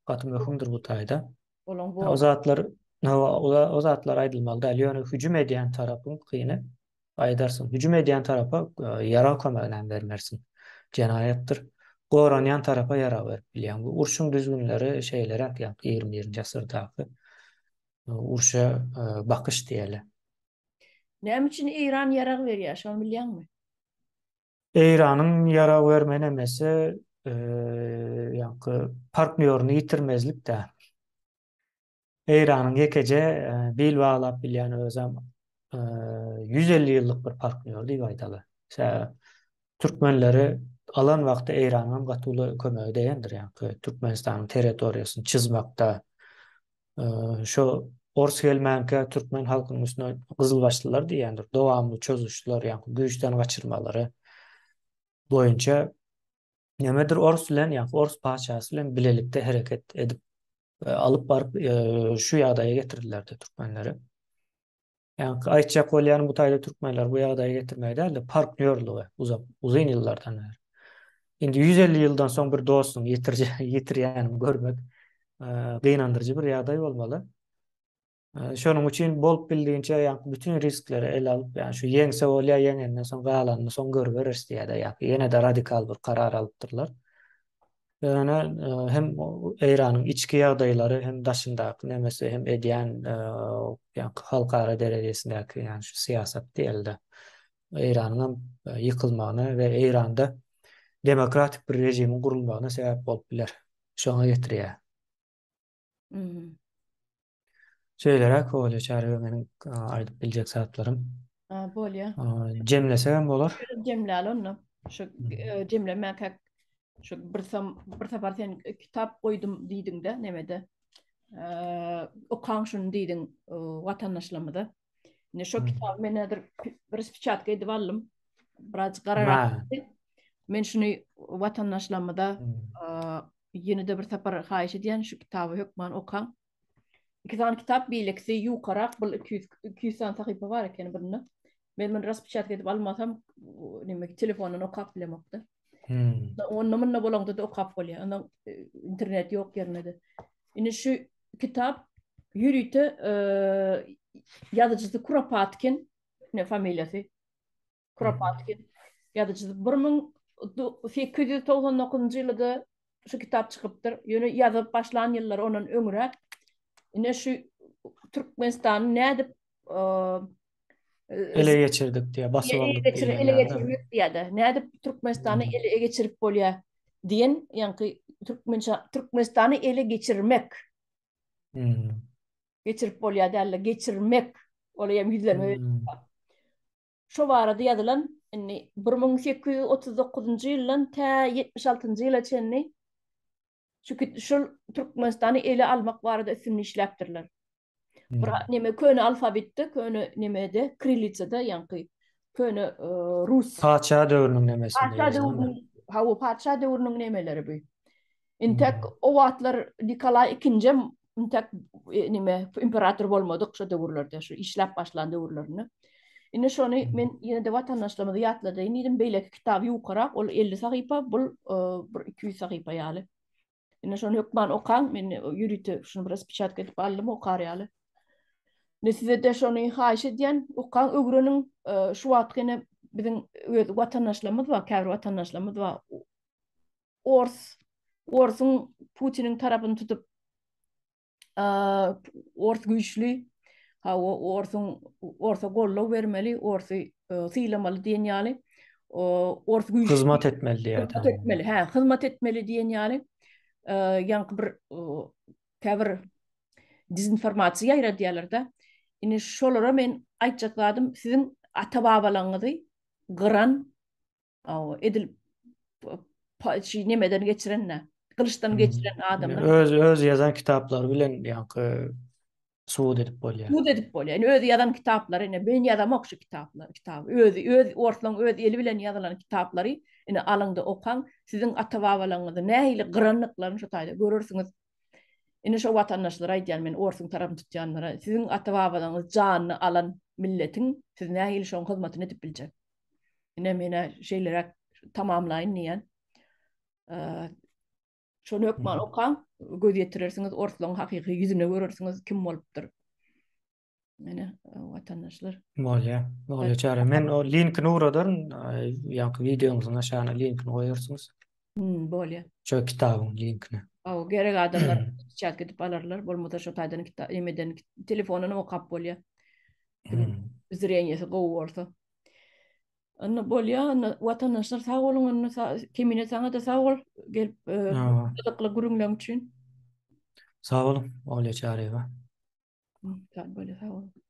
gaty möhümdir bu taýda. O zatlar, o zatlar aýdylmaly däl, ýöne hüjüm edýän tarapyň kyny Gaýdarsyň. Hüjüm edýän tarapa ýarag kömeginem bermersiň. Jenaýatdyr. Goranýan tarapa ýarag berip bilýäň. Bu urşuň düzgünleri şeýleräk ýa ýigrimi birinji asyrdaky urşa bakyş diýeli. Näme üçin Eýran ýarag berýär, şony bilýäňmi? Eýranyň ýarag berme nemesi ýaňky partnýoryny ýitirmezlik däl. Eýranyň ýekeje bil baglap bilýän özem ýüz elli ýyllyk bir partnýor diýip aýdaly. Türkmenleri alan wagty Eýranyňam gaty uly kömegi degendir, ýaňky Türkmenistanyň territoriýasyny çyzmakda. Şo ors gelmänkä türkmen halkynyň üstüne gyzylbaşlylar diýýändir, dowamly çozuşlar, ýaňky güýçden gaçyrmalary boýunça Nämedir orus bilen ýa orus patyşasy bilen bilelikde hereket edip alyp baryp şu ýagdaýa getirdilerdi türkmenleri. Ýa-da aýtjak bolýan bu taýda türkmenler bu ýagdaýa getirmegi däl-de partnýorlygy uzak uzyn ýyllardan bäri. Indi 150 ýyldan soň bir dostuň ýetirýän görmek gynandyryjy bir ýagdaý bolmaly. Şonuň üçin bolup bildigiňçe ýa bütin riskleri ele alyp, ýa şu ýeňse bolýa, ýeňenden soň galanyny soň görüberis diýýärler, ýa ýene-de radikal bir karar alypdyrlar. Ýöne hem Eýranyň içki ýagdaýlary hem daşyndaky nemesi hem edýän ýa-da halkara derejesindäki ýa şu syýasat diýeli-de Eýranyň hem ýykylmagyna we Eýranda demokratik bir režimiň gurulmagyna sebäp bolup biler. Şoňa getirýär. Mhm. Şeýleräk bolýar çärýe meniň aýdyp biljek zatlarym. Ha, bolýar. Jemlesegem bolar. Jemläli onda. Şu e, jemlemäkäk şu bir sam bir sapar sen kitap goýdum diýdiňde nemede. Eee, okaň şuny diýdiň e, watandaşlarymyza. Indi şo kitaby men häzir bir spiçatka edip aldym. Biraz gararak. Men şuny watandaşlarymyza ýene-de bir sapar haýyş edýän şu kitaby hökman okaň. Iki sany kitap beýlekisi ýukarak, bu 200 200 sany sahypa bar ekeni birinde. Men muny raspyçat edip almasam, neme telefondan okap bilemokda. Hmm. Onda munda bolanda da okap bolýar. Onda e, internet ýok ýerinde de. Indi şu kitap ýörite ýazyjysy Kuropatkin, ne familiýasy? Kuropatkin ýazyjysy 1899-njy ýylda şu kitap çykypdyr. Ýöne ýazyp başlan ýyllary ondan öňräk. Ine şu Türkmenistanyň nädip ele geçirdik diye basyp aldyk diye ele geçirmek diye de ne edip Türkmenistan'ı hmm. ele geçirip bolýar diyen yani Türkmença Türkmenistan'ı ele geçirmek hmm. geçirip bolýar derler geçirmek olayam yüzleme hmm. şu barada yazılan indi 1839 ýyldan ta 76 ýyla çenli Çünki şul Türkmenistany ele almak barada üstünli işläpdirler. Bir neme köne alfabetde, köne nemede, krillitsada ýaňky köne rus. Patyşa döwrüniň nemesi. Patyşa döwrüniň, hawa, patyşa döwrüniň nemeleri bu. Intek o wagtlar Nikolay II-njm intek e, nime imperator bolmadyk şu döwürlerde şu işläp başlan döwürlerinde Indi şony men ýene de watandaşlarymyza ýatladýan diýdim, beýleki kitab ýokarak, ol 50 sahypa, bul e, bir 200 sahypa ýaly. Indi şony hökman okaň, men ýörite şuny biraz piçatka edip aldym, okar ýaly. Ne size de şony haýyş edýän, okaň, öwreniň, e, şu wagt ýene biziň öz watandaşlarymyz bar, käbir watandaşlarymyz bar. Ors, orsuň Putiniň tarapyny tutup ors güýçli, hawa orsuň orsa goldaw bermeli, orsy sylamaly diýen ýaly ors güýçli. Hyzmat etmeli diýýär. Hyzmat etmeli, hä, hyzmat etmeli diýen ýaly ýaňky bir käbir dezinformasiýa ýaýradýarlar-da. Indi şolara men aýtjak zadym siziň ata-babalaňyzy gyran Aw, edil şi nemeden geçirende, gylyçdan geçiren adamlar. Öz öz ýazan kitaplary bilen ýaňky subut edip bolýar. Subut edip bolýar. Ýani öz ýazan kitaplary, ine men ýazamok şu kitaplary, kitap. Öz öz orslaň öz eli bilen ýazylan kitaplary ine alyňda okaň, siziň ata-babalaryňyzy nähili gyrandyklaryny şu taýda görersiňiz. Ine şu watandaşlara aýdýan men orsuň tarapyny tutýanlara, siziň ata-babalaryňyz janyny alan milletiň siz nähili şoň hyzmatyny edip biljek. Ine mena şeýleräk tamamlaýyn diýen. Şony hökman okaň, göz ýetirersiňiz, orslaryň hakyky ýüzüne görersiňiz kim bolupdyr. Mena watandaşlar. Bolýa, bolýa çary. Men o linkini uradaryn, ýa-da wideoňyzyň aşagyna linkini goýarsyňyz. Hmm, bolýar. Şo kitabyň linkine. Aw, gerek adamlar çat gidip alarlar, bolmasa şo taýdan kitap emeden telefondan okap bolýar. Hmm. Zreniýesi gowy bolsa. Anna bolýa, anna watandaşlar sag boluň, anna kemine saňa da sag bol, gelip e, gyzykly gürüňleň üçin. Sag boluň, Olýa Çaryýewa. Sag boluň, sag boluň.